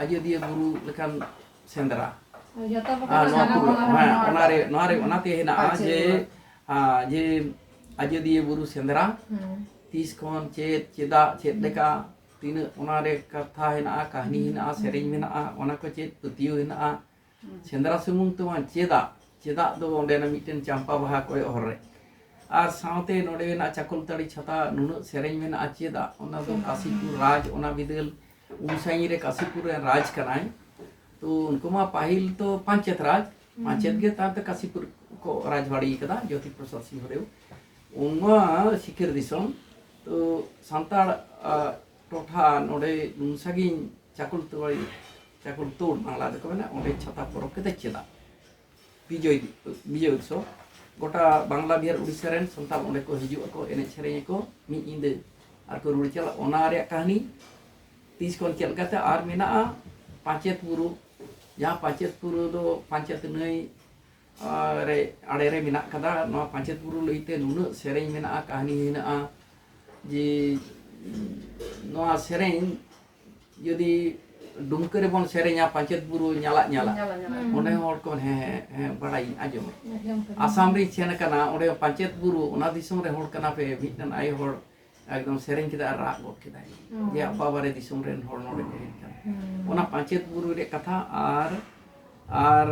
ᱟᱡᱚᱫᱤᱭᱟᱹ ᱵᱩᱨᱩ ᱞᱮᱠᱟᱱ ᱥᱮᱸᱫᱽᱨᱟ ᱚᱱᱟᱨᱮ ᱚᱱᱟᱛᱮ ᱦᱮᱱᱟᱜᱼᱟ ᱡᱮ ᱡᱮ ᱟᱡᱚᱫᱤᱭᱟᱹ ᱵᱩᱨᱩ ᱥᱮᱸᱫᱽᱨᱟ ᱛᱤᱥ ᱠᱷᱚᱱ ᱪᱮᱫ ᱪᱮᱫᱟᱜ ᱪᱮᱫ ᱞᱮᱠᱟ ᱛᱤᱱᱟᱹᱜ ᱚᱱᱟᱨᱮ ᱠᱟᱛᱷᱟ ᱦᱮᱱᱟᱜᱼᱟ ᱠᱟᱹᱦᱱᱤ ᱦᱮᱱᱟᱜᱼᱟ ᱥᱮᱨᱮᱧ ᱢᱮᱱᱟᱜᱼᱟ ᱚᱱᱟ ᱠᱚ ᱪᱮᱫ ᱯᱟᱹᱛᱭᱟᱹᱣ ᱦᱮᱱᱟᱜᱼᱟ ᱥᱮᱸᱫᱽᱨᱟ ᱥᱩᱢᱩᱝ ᱛᱮᱢᱟ ᱪᱮᱫᱟᱜ ᱪᱮᱫᱟᱜ ᱫᱚ ᱚᱸᱰᱮᱱᱟᱜ ᱢᱤᱫᱴᱮᱱ ᱪᱟᱢᱯᱟ ᱵᱟᱦᱟ ᱠᱚᱭᱚᱜ ᱦᱚᱨ ᱨᱮ ᱟᱨ ᱥᱟᱶᱛᱮ ᱱᱚᱰᱮᱱᱟᱜ ᱪᱟᱠᱚᱞᱛᱟᱹᱲᱤ ᱪᱷᱟᱛᱟ ᱱᱩᱱᱟᱹᱜ ᱥᱮᱨᱮᱧ ᱢᱮᱱᱟᱜᱼᱟ ᱪᱮᱫᱟᱜ ᱚᱱᱟ ᱫᱚ ᱠᱟᱥᱤᱯᱩᱨ ᱨᱟᱡᱽ ᱚᱱᱟ ᱵᱤᱫᱟᱹᱞ ᱩᱱ ᱥᱟᱺᱜᱤᱧ ᱨᱮ ᱠᱟᱥᱤᱯᱩᱨ ᱨᱮᱱ ᱨᱟᱡᱽ ᱠᱟᱱᱟᱭ ᱛᱚ ᱩᱱᱠᱩ ᱢᱟ ᱯᱟᱹᱦᱤᱞ ᱛᱚ ᱯᱟᱧᱪᱮᱛ ᱨᱟᱡᱽ ᱢᱟᱪᱮᱫ ᱜᱮ ᱛᱟᱨ ᱫᱚ ᱠᱟᱥᱤᱯᱩᱨ ᱠᱚ ᱨᱟᱡᱽᱵᱟᱲᱤ ᱠᱟᱫᱟ ᱡᱳᱛᱤ ᱯᱨᱚᱥᱟᱫᱽ ᱥᱤᱝᱦᱚᱫᱮᱣ ᱚᱱᱟ ᱥᱤᱠᱟᱹᱨ ᱫᱤᱥᱚᱢ ᱛᱚ ᱥᱟᱱᱛᱟᱲ ᱴᱚᱴᱷᱟ ᱱᱚᱰᱮ ᱱᱩᱱ ᱥᱟᱺᱜᱤᱧ ᱪᱟᱠᱩᱞ ᱛᱚᱲᱟᱭ ᱪᱟᱠᱩᱞ ᱛᱚᱲ ᱵᱟᱝᱞᱟ ᱫᱚᱠᱚ ᱢᱮᱱᱟ ᱚᱸᱰᱮ ᱪᱷᱟᱛᱟ ᱯᱚᱨᱚᱵᱽ ᱠᱟᱛᱮ ᱪᱮᱫᱟᱜ ᱵᱤᱡᱚᱭ ᱵᱤᱡᱚᱭ ᱩᱛᱥᱚᱵ ᱜᱚᱴᱟ ᱵᱟᱝᱞᱟ ᱵᱤᱦᱟᱨ ᱩᱲᱤᱥᱥᱟ ᱨᱮᱱ ᱥᱟᱱᱛᱟᱲ ᱚᱸᱰᱮ ᱠᱚ ᱦᱤᱡᱩᱜ ᱟᱠᱚ ᱮᱱᱮᱡ ᱥᱮᱨᱮᱧ ᱟᱠᱚ ᱢᱤᱫ ᱧᱤᱫᱟᱹ ᱟᱨ ᱠᱚ ᱨᱩᱣᱟᱹᱲ ᱪᱟᱞᱟᱜ ᱚᱱᱟ ᱨᱮᱭᱟᱜ ᱠᱟᱹᱦᱱᱤ ᱛᱤᱥ ᱠᱷᱚᱱ ᱪᱮᱫ ᱞᱮᱠᱟᱛᱮ ᱟᱨ ᱢᱮᱱᱟᱜᱼᱟ ᱯᱟᱧᱪᱮᱛ ᱵᱩᱨᱩ ᱡᱟᱦᱟᱸ ᱯᱟᱧᱪᱮᱛ ᱵᱩᱨᱩ ᱫᱚ ᱯᱟᱧᱪᱮᱛ ᱱᱟᱹᱭ ᱨᱮ ᱟᱲᱮ ᱨᱮ ᱢᱮᱱᱟᱜ ᱠᱟᱫᱟ ᱱᱚᱣᱟ ᱯᱟᱧᱪᱮᱛ ᱵᱩᱨᱩ ᱞᱟᱹᱭᱛᱮ ᱱᱩᱱᱟᱹᱜ ᱥᱮᱨᱮᱧ ᱢᱮᱱᱟᱜᱼᱟ ᱠᱟᱹᱦᱱᱤ ᱢᱮᱱᱟᱜᱼᱟ ᱡᱮ ᱱᱚᱣᱟ ᱥᱮᱨᱮᱧ ᱡᱩᱫᱤ ᱰᱩᱢᱠᱟᱹ ᱨᱮᱵᱚᱱ ᱥᱮᱨᱮᱧᱟ ᱯᱟᱧᱪᱮᱛ ᱵᱩᱨᱩ ᱧᱟᱞᱟᱜ ᱧᱟᱞᱟᱜ ᱚᱸᱰᱮ ᱦᱚᱲ ᱠᱚ ᱦᱮᱸ ᱦᱮᱸ ᱵᱟᱲᱟᱭᱤᱧ ᱟᱸᱡᱚᱢ ᱟᱥᱟᱢ ᱨᱤᱧ ᱥᱮᱱ ᱠᱟᱱᱟ ᱚᱸᱰᱮ ᱯᱟᱧᱪᱮᱛ ᱵᱩᱨᱩ ᱚᱱᱟ ᱫᱤᱥᱚᱢ ᱨᱮ ᱦᱚᱲ ᱠᱟᱱᱟ ᱯᱮ ᱢᱤᱫᱴᱟᱝ ᱟᱭᱳ ᱦᱚᱲ ᱮᱠᱫᱚᱢ ᱥᱮᱨᱮᱧ ᱠᱮᱫᱟ ᱟᱨ ᱨᱟᱜ ᱜᱚᱫ ᱠᱮᱫᱟᱭ ᱡᱮ ᱟᱯᱟ ᱵᱟᱨᱮ ᱫᱤᱥᱚᱢ ᱨᱮᱱ ᱦᱚᱲ ᱱᱚᱰᱮ ᱠᱚ ᱦᱮᱡ ᱠᱟᱱᱟ ᱚᱱᱟ ᱯᱟᱧᱪᱮᱛ ᱵᱩᱨᱩ ᱨᱮᱭᱟᱜ ᱠᱟᱛᱷᱟ ᱟᱨ ᱟᱨ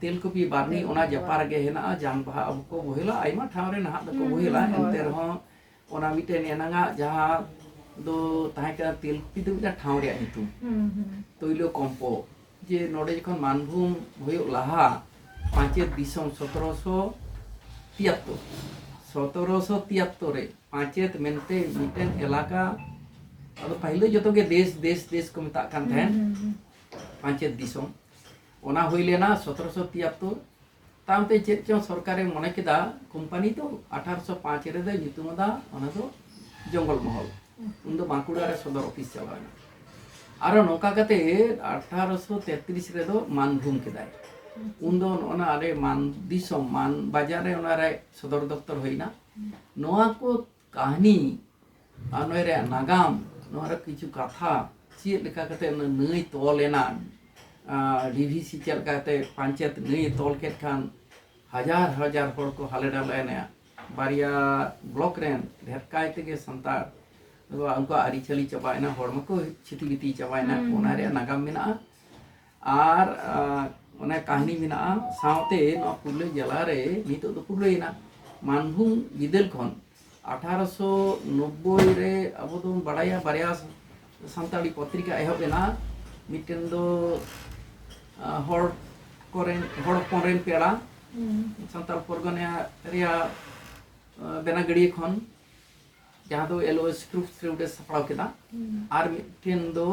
ᱛᱮᱞᱠᱩᱯᱤ ᱵᱟᱨᱱᱤ ᱚᱱᱟ ᱡᱟᱯᱟ ᱨᱮᱜᱮ ᱦᱮᱱᱟᱜᱼᱟ ᱡᱟᱝ ᱵᱟᱦᱟ ᱟᱵᱚ ᱠᱚ ᱵᱚᱦᱮᱞᱟ ᱟᱭᱢᱟ ᱴᱷᱟᱶ ᱨᱮ ᱱᱟᱦᱟᱜ ᱫᱚᱠᱚ ᱵᱚᱦᱮᱞᱟ ᱮᱱᱛᱮ ᱨᱮᱦᱚᱸ ᱚᱱᱟ ᱢᱤᱫᱴᱮᱱ ᱮᱱᱟᱝᱟᱜ ᱡᱟᱦᱟᱸ ᱫᱚ ᱛᱟᱦᱮᱸ ᱠᱟᱱᱟ ᱛᱮᱞᱠᱩᱯᱤ ᱫᱚ ᱢᱤᱫᱴᱟᱝ ᱴᱷᱟᱶ ᱨᱮᱭᱟᱜ ᱧᱩᱛᱩᱢ ᱛᱳᱭᱞᱳ ᱠᱚᱢᱯᱚ ᱡᱮ ᱱᱚᱰᱮ ᱡᱚᱠᱷᱚᱱ ᱢᱟᱱᱵᱷᱩᱢ ᱦᱩᱭᱩᱜ ᱞᱟᱦᱟ ᱯᱟᱧᱪᱮᱛ ᱫᱤᱥᱚᱢ ᱥᱚᱛᱨᱚᱥᱚ ᱛᱤᱭᱟᱛᱛᱚᱨ ᱥᱚᱛᱨᱚᱥᱚ ᱛᱤᱭᱟᱛᱛᱚᱨ ᱨᱮ ᱯᱟᱧᱪᱮᱛ ᱢᱮᱱᱛᱮ ᱢᱤᱫᱴᱮᱱ ᱮᱞᱟᱠᱟ ᱟᱫᱚ ᱯᱟᱹᱦᱤᱞ ᱫᱚ ᱡᱚᱛᱚ ᱜᱮ ᱫᱮᱥ ᱫᱮᱥ ᱫᱮᱥ ᱠᱚ ᱢᱮᱛᱟᱜ ᱠᱟᱱ ᱛᱟᱦᱮᱸᱱ ᱯᱟᱧᱪᱮᱛ ᱫᱤᱥᱚᱢ ᱚᱱᱟ ᱦᱩᱭ ᱞᱮᱱᱟ ᱥᱚᱛᱨᱚᱥᱚ ᱛᱤᱭᱟᱛᱛᱚᱨ ᱛᱟᱭᱚᱢᱛᱮ ᱪᱮᱫ ᱪᱚᱝ ᱥᱚᱨᱠᱟᱨᱮ ᱢᱚᱱᱮ ᱠᱮᱫᱟ ᱠᱳᱢᱯᱟᱱᱤ ᱫᱚ ᱟᱴᱷᱟᱨᱚᱥᱚ ᱯᱟᱸᱪ ᱨᱮᱫᱚ ᱧᱩᱛᱩᱢ ᱟᱫᱟ ᱚᱱᱟ ᱫᱚ ᱡᱚᱝᱜᱚᱞ ᱢᱚᱦᱚᱞ ᱩᱱ ᱫᱚ ᱵᱟᱸᱠᱩᱲᱟ ᱨᱮ ᱥᱚᱫᱚᱨ ᱚᱯᱷᱤᱥ ᱪᱟᱞᱟᱣ ᱮᱱᱟ ᱟᱨᱚ ᱱᱚᱝᱠᱟ ᱠᱟᱛᱮ ᱟᱴᱷᱟᱨᱚᱥᱚ ᱛᱮᱛᱨᱤᱥ ᱨᱮᱫᱚ ᱢᱟᱱᱵᱷᱩᱢ ᱠᱮᱫᱟᱭ ᱩᱱ ᱫᱚ ᱚᱱᱟ ᱟᱞᱮ ᱢᱟᱱ ᱫᱤᱥᱚᱢ ᱢᱟᱱ ᱵᱟᱡᱟᱨ ᱨᱮ ᱚᱱᱟᱨᱮ ᱥᱚᱫᱚᱨ ᱫᱚᱯᱛᱚᱨ ᱦᱩᱭᱱᱟ ᱱᱚᱣᱟ ᱠᱚ ᱠᱟᱹᱦᱱᱤ ᱟᱨ ᱱᱚᱣᱟ ᱨᱮᱭᱟᱜ ᱱᱟᱜᱟᱢ ᱱᱚᱣᱟ ᱨᱮ ᱠᱤᱪᱷᱩ ᱠᱟᱛᱷᱟ ᱪᱮᱫ ᱞᱮᱠᱟ ᱠᱟᱛᱮ ᱚᱱᱟ ᱱᱟᱹᱭ ᱛᱚᱞ ᱮᱱᱟ ᱰᱤᱵᱷᱤᱥᱤ ᱪᱮᱫ ᱞᱮᱠᱟ ᱠᱟᱛᱮ ᱯᱟᱧᱪᱮᱛ ᱱᱟᱹᱭ ᱛᱚᱞ ᱠᱮᱫ ᱠᱷᱟᱱ ᱦᱟᱡᱟᱨ ᱦᱟᱡᱟᱨ ᱦᱚᱲ ᱠᱚ ᱦᱟᱞᱮ ᱰᱟᱞᱮ ᱮᱱᱟ ᱵᱟᱨᱭᱟ ᱵᱞᱚᱠ ᱨᱮᱱ ᱰᱷᱮᱨ ᱠᱟᱭ ᱛᱮᱜᱮ ᱥᱟᱱᱛᱟᱲ ᱩᱱᱠᱩᱣᱟᱜ ᱟᱹᱨᱤᱪᱟᱹᱞᱤ ᱪᱟᱵᱟᱭᱮᱱᱟ ᱦᱚᱲ ᱢᱟᱠᱚ ᱪᱷᱤᱛᱤ ᱵᱤᱛᱤ ᱪᱟᱵᱟᱭᱮᱱᱟ ᱚᱱᱟ ᱨᱮᱭᱟᱜ ᱱᱟᱜᱟᱢ ᱢᱮᱱᱟᱜᱼᱟ ᱟᱨ ᱚᱱᱟ ᱠᱟᱹᱦᱱᱤ ᱢᱮᱱᱟᱜᱼᱟ ᱥᱟᱶᱛᱮ ᱱᱚᱣᱟ ᱯᱩᱨᱩᱞᱤᱭᱟᱹ ᱡᱮᱞᱟ ᱨᱮ ᱱᱤᱛᱚᱜ ᱫᱚ ᱯᱩᱨᱩᱞᱤᱭᱟᱹᱭᱮᱱᱟ ᱢᱟᱱᱵᱷᱩᱢ ᱵᱤᱫᱟᱹᱞ ᱠᱷᱚᱱ ᱟᱴᱷᱟᱨᱚᱥᱚ ᱱᱚᱵᱽᱵᱳᱭ ᱨᱮ ᱟᱵᱚ ᱫᱚᱵᱚᱱ ᱵᱟᱲᱟᱭᱟ ᱵᱟᱨᱭᱟ ᱥᱟᱱᱛᱟᱲᱤ ᱯᱚᱛᱨᱤᱠᱟ ᱮᱦᱚᱵ ᱮᱱᱟ ᱢᱤᱫᱴᱮᱱ ᱫᱚ ᱦᱚᱲ ᱠᱚᱨᱮᱱ ᱦᱚᱲ ᱦᱚᱯᱚᱱ ᱨᱮᱱ ᱯᱮᱲᱟ ᱥᱟᱱᱛᱟᱲ ᱯᱚᱨᱜᱚᱱᱟ ᱨᱮᱭᱟᱜ ᱵᱮᱱᱟᱜᱟᱹᱲᱤᱭᱟᱹ ᱠᱷᱚᱱ ᱡᱟᱦᱟᱸ ᱫᱚ ᱮᱞ ᱳ ᱮᱥ ᱯᱨᱩᱯᱷ ᱛᱷᱨᱩᱰ ᱮ ᱥᱟᱯᱲᱟᱣ ᱠᱮᱫᱟ ᱟᱨ ᱢᱤᱫᱴᱮᱱ ᱫᱚ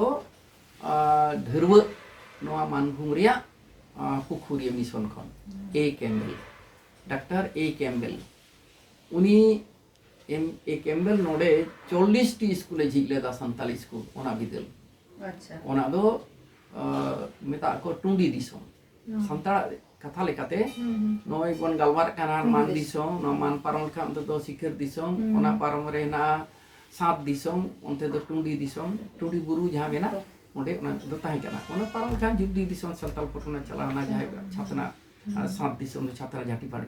ᱰᱷᱟᱹᱨᱣᱟᱹᱜ ᱱᱚᱣᱟ ᱢᱟᱱᱵᱷᱩᱢ ᱨᱮᱭᱟᱜ ᱯᱩᱠᱷᱩᱨᱤᱭᱟᱹ ᱢᱤᱥᱚᱱ ᱠᱷᱚᱱ A Campbell doctor A Campbell ᱩᱱᱤ ᱮᱢ ᱮ ᱠᱮᱢᱵᱮᱞ ᱱᱚᱰᱮ ᱪᱚᱞᱞᱤᱥᱴᱤ ᱥᱠᱩᱞᱮ ᱡᱷᱤᱡ ᱞᱮᱫᱟ ᱥᱟᱱᱛᱟᱲᱤ ᱥᱠᱩᱞ ᱚᱱᱟ ᱵᱤᱫᱟᱹᱞ ᱚᱱᱟ ᱫᱚ ᱢᱮᱛᱟᱜ ᱠᱚ ᱴᱩᱸᱰᱤ ᱫᱤᱥᱚᱢ ᱥᱟᱱᱛᱟᱲ ᱠᱟᱛᱷᱟ ᱞᱮᱠᱟᱛᱮ ᱱᱚᱜᱼᱚᱭ ᱵᱚᱱ ᱜᱟᱞᱢᱟᱨᱟᱜ ᱠᱟᱱᱟ ᱢᱟᱱ ᱫᱤᱥᱚᱢ ᱱᱚᱣᱟ ᱢᱟᱱ ᱯᱟᱨᱚᱢ ᱞᱮᱠᱷᱟᱱ ᱚᱱᱛᱮ ᱫᱚ ᱥᱤᱠᱷᱟᱹᱨ ᱫᱤᱥᱚᱢ ᱚᱱᱟ ᱯᱟᱨᱚᱢ ᱨᱮ ᱦᱮᱱᱟᱜᱼᱟ ᱥᱟᱛ ᱫᱤᱥᱚᱢ ᱚᱱᱛᱮ ᱫᱚ ᱴᱩᱸᱰᱤ ᱫᱤᱥᱚᱢ ᱴᱩᱸᱰᱤ ᱵᱩᱨᱩ ᱡᱟᱦᱟᱸ ᱢᱮᱱᱟᱜᱼᱟ ᱚᱸᱰᱮ ᱚᱱᱟ ᱫᱚ ᱛᱟᱦᱮᱸ ᱠᱟᱱᱟ ᱚᱱᱟ ᱯᱟᱨᱚᱢ ᱞᱮᱠᱷᱟᱱ ᱡᱩᱜᱽᱫᱤ ᱫᱤᱥᱚᱢ ᱥᱟᱱᱛᱟᱲ ᱯᱚᱴᱚᱱᱟ ᱪᱟᱞᱟᱣᱱᱟ ᱡᱟᱦᱟᱸᱭ ᱪᱷᱟᱛᱱᱟ ᱥᱟᱛ ᱫᱤᱥᱚᱢ ᱫᱚ ᱪᱷᱟᱛᱱᱟ ᱡᱷᱟᱴᱤ ᱯᱟᱲᱮ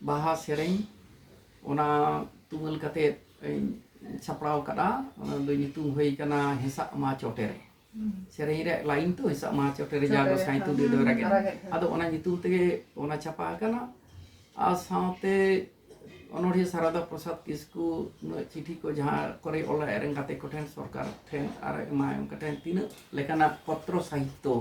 ᱵᱟᱦᱟ ᱥᱮᱨᱮᱧ ᱚᱱᱟ ᱛᱩᱢᱟᱹᱞ ᱠᱟᱛᱮ ᱥᱟᱯᱲᱟᱣ ᱠᱟᱫᱟ ᱚᱱᱟ ᱫᱚ ᱧᱩᱛᱩᱢ ᱦᱩᱭ ᱠᱟᱱᱟ ᱦᱮᱸᱥᱟᱜ ᱢᱟ ᱪᱚᱴᱮ ᱨᱮ ᱥᱮᱨᱮᱧ ᱨᱮ ᱞᱟᱭᱤᱱ ᱛᱚ ᱦᱮᱸᱥᱟᱜ ᱢᱟ ᱪᱚᱴᱮ ᱨᱮ ᱡᱟ ᱜᱚᱥᱟᱭ ᱛᱩᱫᱮ ᱫᱚ ᱨᱟᱜᱮ ᱟᱫᱚ ᱚᱱᱟ ᱧᱩᱛᱩᱢ ᱛᱮᱜᱮ ᱚᱱᱟ ᱪᱷᱟᱯᱟ ᱟᱠᱟᱱᱟ ᱟᱨ ᱥᱟᱶᱛᱮ ᱚᱱᱚᱲᱦᱤᱭᱟᱹ ᱥᱟᱨᱟᱫᱟ ᱯᱨᱚᱥᱟᱫᱽ ᱠᱤᱥᱠᱩ ᱱᱩᱭᱟᱜ ᱪᱤᱴᱷᱤ ᱠᱚ ᱡᱟᱦᱟᱸ ᱠᱚᱨᱮ ᱚᱞᱟ ᱟᱡ ᱨᱮᱱ ᱜᱟᱛᱮ ᱠᱚᱴᱷᱮᱱ ᱥᱚᱨᱠᱟᱨ ᱴᱷᱮᱱ ᱟᱨ ᱮᱢᱟᱭ ᱚᱱᱠᱟ ᱴᱷᱮᱱ ᱛᱤᱱᱟᱹᱜ ᱞᱮᱠᱟᱱᱟᱜ ᱯᱚᱛᱨᱚ ᱥᱟᱦᱤᱛᱛᱚ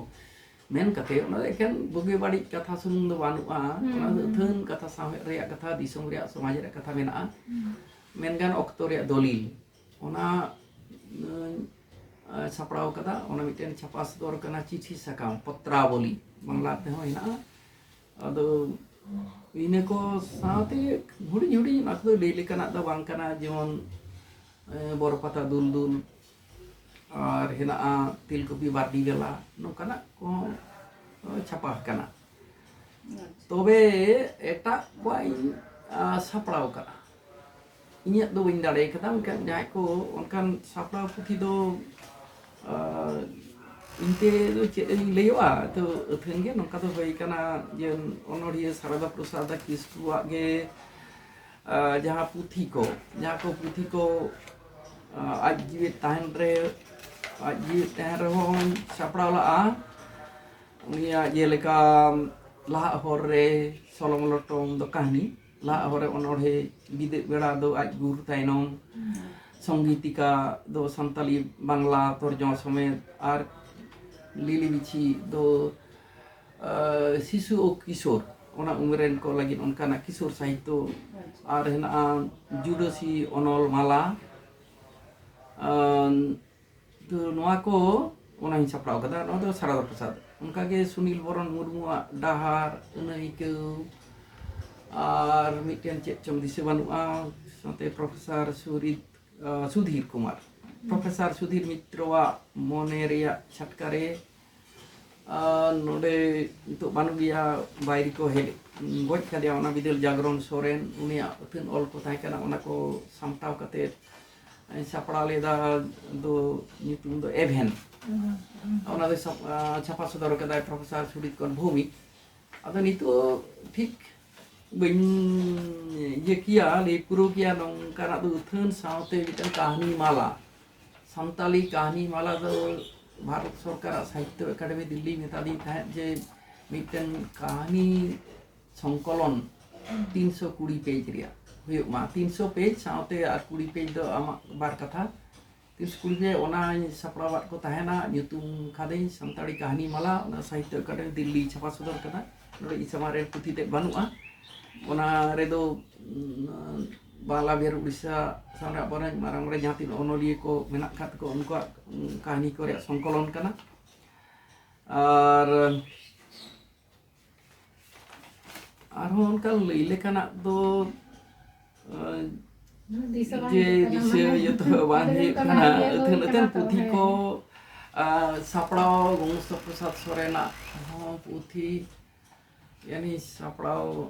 ᱢᱮᱱ ᱠᱟᱛᱮ ᱚᱱᱟ ᱫᱚ ᱮᱠᱷᱮᱱ ᱵᱩᱜᱤ ᱵᱟᱹᱲᱤᱡ ᱠᱟᱛᱷᱟ ᱥᱩᱢᱩᱝ ᱫᱚ ᱵᱟᱹᱱᱩᱜᱼᱟ ᱚᱱᱟ ᱫᱚ ᱟᱹᱛᱷᱟᱹᱱ ᱠᱟᱛᱷᱟ ᱥᱟᱶᱦᱮᱫ ᱨᱮᱭᱟᱜ ᱠᱟᱛᱷᱟ ᱫᱤᱥᱚᱢ ᱨᱮᱭᱟᱜ ᱥᱚᱢᱟᱡᱽ ᱨᱮᱭᱟᱜ ᱠᱟᱛᱷᱟ ᱢᱮᱱᱟᱜᱼᱟ ᱢᱮᱱ ᱜᱟᱱ ᱚᱠᱛᱚ ᱨᱮᱭᱟᱜ ᱫᱚᱞᱤᱞ ᱚᱱᱟ ᱥᱟᱯᱲᱟᱣ ᱠᱟᱫᱟ ᱚᱱᱟ ᱢᱤᱫᱴᱮᱱ ᱪᱷᱟᱯᱟ ᱥᱚᱫᱚᱨ ᱠᱟᱱᱟ ᱪᱤᱴᱷᱤ ᱥᱟᱠᱟᱢ ᱯᱚᱛᱨᱟᱵᱚᱞᱤ ᱵᱟᱝᱞᱟ ᱛᱮᱦᱚᱸ ᱦᱮᱱᱟᱜᱼᱟ ᱟᱫᱚ ᱤᱱᱟᱹ ᱠᱚ ᱥᱟᱶᱛᱮ ᱦᱩᱰᱤᱧ ᱦᱩᱰᱤᱧ ᱚᱱᱟ ᱠᱚᱫᱚ ᱞᱟᱹᱭ ᱞᱮᱠᱟᱱᱟᱜ ᱫᱚ ᱵᱟᱝ ᱠᱟᱱᱟ ᱡᱮᱢᱚᱱ ᱵᱚᱨᱚ ᱯᱟᱛᱟ ᱫᱩᱞ ᱫᱩᱞ ᱟᱨ ᱦᱮᱱᱟᱜᱼᱟ ᱛᱮᱞᱠᱩᱯᱤ ᱵᱟᱨᱰᱤ ᱜᱟᱞᱟ ᱱᱚᱝᱠᱟᱱᱟᱜ ᱠᱚᱦᱚᱸ ᱪᱷᱟᱯᱟ ᱟᱠᱟᱱᱟ ᱛᱚᱵᱮ ᱮᱴᱟᱜ ᱠᱚᱣᱟᱜ ᱤᱧ ᱥᱟᱯᱲᱟᱣ ᱠᱟᱜᱼᱟ ᱤᱧᱟᱹᱜ ᱫᱚ ᱵᱟᱹᱧ ᱫᱟᱲᱮ ᱠᱟᱫᱟ ᱢᱮᱱᱠᱷᱟᱱ ᱡᱟᱦᱟᱸᱭ ᱠᱚ ᱚᱱᱠᱟᱱ ᱥᱟᱯᱲᱟᱣ ᱯᱩᱛᱷᱤ ᱫᱚ ᱤᱧᱛᱮ ᱫᱚ ᱪᱮᱫ ᱤᱧ ᱞᱟᱹᱭᱚᱜᱼᱟ ᱛᱚ ᱟᱹᱛᱷᱟᱹᱱ ᱜᱮ ᱱᱚᱝᱠᱟ ᱫᱚ ᱦᱩᱭ ᱠᱟᱱᱟ ᱡᱮ ᱚᱱᱚᱲᱦᱤᱭᱟᱹ ᱥᱟᱨᱚᱫᱟ ᱯᱨᱚᱥᱟᱫᱽ ᱠᱤᱥᱠᱩᱣᱟᱜ ᱜᱮ ᱡᱟᱦᱟᱸ ᱯᱩᱛᱷᱤ ᱠᱚ ᱡᱟᱦᱟᱸ ᱠᱚ ᱯᱩᱛᱷᱤ ᱠᱚ ᱟᱡ ᱡᱤᱣᱤ ᱛᱟᱦᱮᱱ ᱨᱮ ᱟᱡ ᱡᱤᱣᱤ ᱛᱟᱦᱮᱱ ᱨᱮᱦᱚᱸ ᱥᱟᱯᱲᱟᱣ ᱞᱟᱜᱼᱟ ᱩᱱᱤᱭᱟᱜ ᱡᱮᱞᱮᱠᱟ ᱞᱟᱦᱟᱜ ᱦᱚᱨ ᱨᱮ ᱥᱚᱞᱚᱝ ᱞᱚᱴᱚᱢ ᱫᱚ ᱠᱟᱹᱦᱱᱤ ᱞᱟᱦᱟᱜ ᱦᱚᱨ ᱨᱮ ᱚᱱᱚᱲᱦᱮ ᱵᱤᱫᱟᱹᱜ ᱵᱮᱲᱟ ᱫᱚ ᱟᱡ ᱜᱩᱨ ᱛᱟᱭᱱᱚᱢ ᱥᱚᱝᱜᱤᱛᱤᱠᱟ ᱫᱚ ᱥᱟᱱᱛᱟᱞᱤ ᱵᱟᱝᱞᱟ ᱛᱚᱨᱡᱚᱢᱟ ᱥᱚᱢᱮᱛ ᱟᱨ ᱞᱤᱞᱤ ᱵᱤᱪᱷᱤ ᱫᱚ ᱥᱤᱥᱩ ᱳ ᱠᱤᱥᱳᱨ ᱚᱱᱟ ᱩᱢᱮᱨ ᱨᱮᱱ ᱠᱚ ᱞᱟᱹᱜᱤᱫ ᱚᱱᱠᱟᱱᱟᱜ ᱠᱤᱥᱳᱨ ᱥᱟᱦᱤᱛᱛᱚ ᱟᱨ ᱦᱮᱱᱟᱜᱼᱟ ᱡᱩᱰᱟᱹᱥᱤ ᱚᱱᱚᱞ ᱢᱟᱞᱟ ᱛᱚ ᱱᱚᱣᱟ ᱠᱚ ᱚᱱᱟᱧ ᱥᱟᱯᱲᱟᱣ ᱠᱟᱫᱟ ᱱᱚᱣᱟ ᱫᱚ ᱥᱟᱨᱚᱫᱟ ᱯᱨᱚᱥᱟᱫᱽ ᱚᱱᱠᱟ ᱜᱮ ᱥᱩᱱᱤᱞ ᱵᱚᱨᱚᱱ ᱢᱩᱨᱢᱩᱣᱟᱜ ᱰᱟᱦᱟᱨ ᱟᱹᱱᱟᱹᱭᱠᱟᱹᱣ ᱟᱨ ᱢᱤᱫᱴᱮᱱ ᱪᱮᱫ ᱪᱚᱝ ᱫᱤᱥᱟᱹ ᱵᱟᱹᱱᱩᱜᱼᱟ ᱥᱟᱶᱛᱮ ᱯᱨᱚᱯᱷᱮᱥᱟᱨ ᱥᱩᱨᱤᱛ ᱥᱩᱫᱷᱤᱨ ᱠᱩᱢᱟᱨ ᱯᱨᱚᱯᱷᱮᱥᱟᱨ ᱥᱩᱫᱷᱤᱨ ᱢᱤᱛᱨᱚᱣᱟᱜ ᱢᱚᱱᱮ ᱨᱮᱭᱟᱜ ᱪᱷᱟᱴᱠᱟ ᱨᱮ ᱱᱚᱰᱮ ᱱᱤᱛᱚᱜ ᱵᱟᱹᱱᱩᱜ ᱜᱮᱭᱟ ᱵᱟᱭᱨᱤ ᱠᱚ ᱦᱮᱡ ᱜᱚᱡ ᱠᱟᱫᱮᱭᱟ ᱚᱱᱟ ᱵᱤᱫᱟᱹᱞ ᱡᱟᱜᱽᱨᱚᱱ ᱥᱚᱨᱮᱱ ᱩᱱᱤᱭᱟᱜ ᱟᱹᱛᱷᱟᱹᱱ ᱚᱞ ᱠᱚ ᱛᱟᱦᱮᱸ ᱠᱟᱱᱟ ᱚᱱᱟ ᱠᱚ ᱥᱟᱢᱴᱟᱣ ᱠᱟᱛᱮ ᱥᱟᱯᱲᱟᱣ ᱞᱮᱫᱟ ᱫᱚ ᱧᱩᱛᱩᱢ ᱫᱚ ᱮᱵᱷᱮᱱ ᱚᱱᱟ ᱫᱚ ᱪᱷᱟᱯᱟ ᱥᱚᱫᱚᱨ ᱠᱟᱫᱟᱭ ᱯᱨᱚᱯᱷᱮᱥᱚᱨ ᱥᱩᱰᱤᱛ ᱠᱚᱨ ᱵᱷᱩᱢᱤ ᱟᱫᱚ ᱱᱤᱛᱚᱜ ᱴᱷᱤᱠ ᱵᱟᱹᱧ ᱤᱭᱟᱹ ᱠᱮᱭᱟ ᱞᱟᱹᱭ ᱯᱩᱨᱟᱹᱣ ᱠᱮᱭᱟ ᱱᱚᱝᱠᱟᱱᱟᱜ ᱫᱚ ᱟᱹᱛᱷᱟᱹᱱ ᱥᱟᱶᱛᱮ ᱢᱤᱫᱴᱟᱝ ᱠᱟᱹᱦᱱᱤ ᱢᱟᱞᱟ ᱥᱟᱱᱛᱟᱞᱤ ᱠᱟᱹᱦᱱᱤ ᱢᱟᱞᱟ ᱫᱚ ᱵᱷᱟᱨᱚᱛ ᱥᱚᱨᱠᱟᱨᱟᱜ ᱥᱟᱦᱤᱛᱛᱚ ᱮᱠᱟᱰᱮᱢᱤ ᱫᱤᱞᱞᱤ ᱢᱮᱛᱟᱫᱤᱧ ᱛᱟᱦᱮᱸᱫ ᱡᱮ ᱢᱤᱫᱴᱮᱱ ᱠᱟᱹᱦᱱᱤ ᱥᱚᱝᱠᱚᱞᱚᱱ ᱛᱤᱱᱥᱚ ᱠᱩᱲᱤ ᱯᱮᱡᱽ ᱨᱮᱭᱟᱜ ᱦᱩᱭᱩᱜ ᱢᱟ ᱛᱤᱱᱥᱚ ᱯᱮᱡᱽ ᱥᱟᱶᱛᱮ ᱟᱨ ᱠᱩᱲᱤ ᱯᱮᱡᱽ ᱫᱚ ᱟᱢᱟᱜ ᱵᱟᱨ ᱠᱟᱛᱷᱟ ᱛᱤᱱᱥᱚ ᱠᱩᱲᱤ ᱯᱮᱡᱽ ᱚᱱᱟᱧ ᱥᱟᱯᱲᱟᱣᱟᱫ ᱠᱚ ᱛᱟᱦᱮᱱᱟ ᱧᱩᱛᱩᱢ ᱠᱟᱫᱟᱹᱧ ᱥᱟᱱᱛᱟᱲᱤ ᱠᱟᱹᱦᱱᱤ ᱢᱟᱞᱟ ᱚᱱᱟ ᱥᱟᱦᱤᱛᱛᱚ ᱮᱠᱟᱰᱮᱢᱤ ᱫᱤᱞᱞᱤ ᱪᱷᱟᱯᱟ ᱥᱚᱫᱚᱨ ᱠᱟᱫᱟ ᱱᱚᱰᱮ ᱤᱧ ᱥᱟᱢᱟᱝ ᱨᱮ ᱯᱩᱛᱷᱤ ᱛᱮᱫ ᱵᱟᱹᱱᱩᱜᱼᱟ ᱚᱱᱟ ᱨᱮᱫᱚ ᱵᱟᱝᱞᱟ ᱵᱤᱦᱟᱨ ᱩᱲᱤᱥᱥᱟ ᱥᱟᱶ ᱨᱮ ᱟᱵᱚᱨᱮᱱ ᱢᱟᱨᱟᱝ ᱢᱟᱨᱟᱝ ᱡᱟᱦᱟᱸ ᱛᱤᱱᱟᱹᱜ ᱚᱱᱚᱞᱤᱭᱟᱹ ᱠᱚ ᱢᱮᱱᱟᱜ ᱟᱠᱟᱫ ᱠᱚ ᱩᱱᱠᱩᱣᱟᱜ ᱠᱟᱹᱦᱱᱤ ᱠᱚ ᱨᱮᱭᱟᱜ ᱥᱚᱝᱠᱚᱞᱚᱱ ᱠᱟᱱᱟ ᱟᱨ ᱟᱨᱦᱚᱸ ᱚᱱᱠᱟ ᱞᱟᱹᱭ ᱞᱮᱠᱟᱱᱟᱜ ᱫᱚ ᱡᱮ ᱫᱤᱥᱟᱹ ᱡᱚᱛᱚ ᱵᱟᱝ ᱦᱩᱭᱩᱜ ᱠᱟᱱᱟ ᱟᱹᱛᱷᱟᱹᱱ ᱟᱹᱛᱷᱟᱹᱱ ᱯᱩᱛᱷᱤ ᱠᱚ ᱥᱟᱯᱲᱟᱣ ᱜᱚᱝᱜᱚᱥᱛᱚ ᱯᱨᱚᱥᱟᱫᱽ ᱥᱚᱨᱮᱱᱟᱜ ᱦᱚᱸ ᱯᱩᱛᱷᱤ ᱡᱟᱹᱱᱤᱡ ᱥᱟᱯᱲᱟᱣ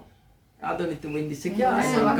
ᱟᱫᱚ ᱱᱤᱛᱚᱜ ᱵᱟᱹᱧ ᱫᱤᱥᱟᱹ ᱠᱮᱭᱟ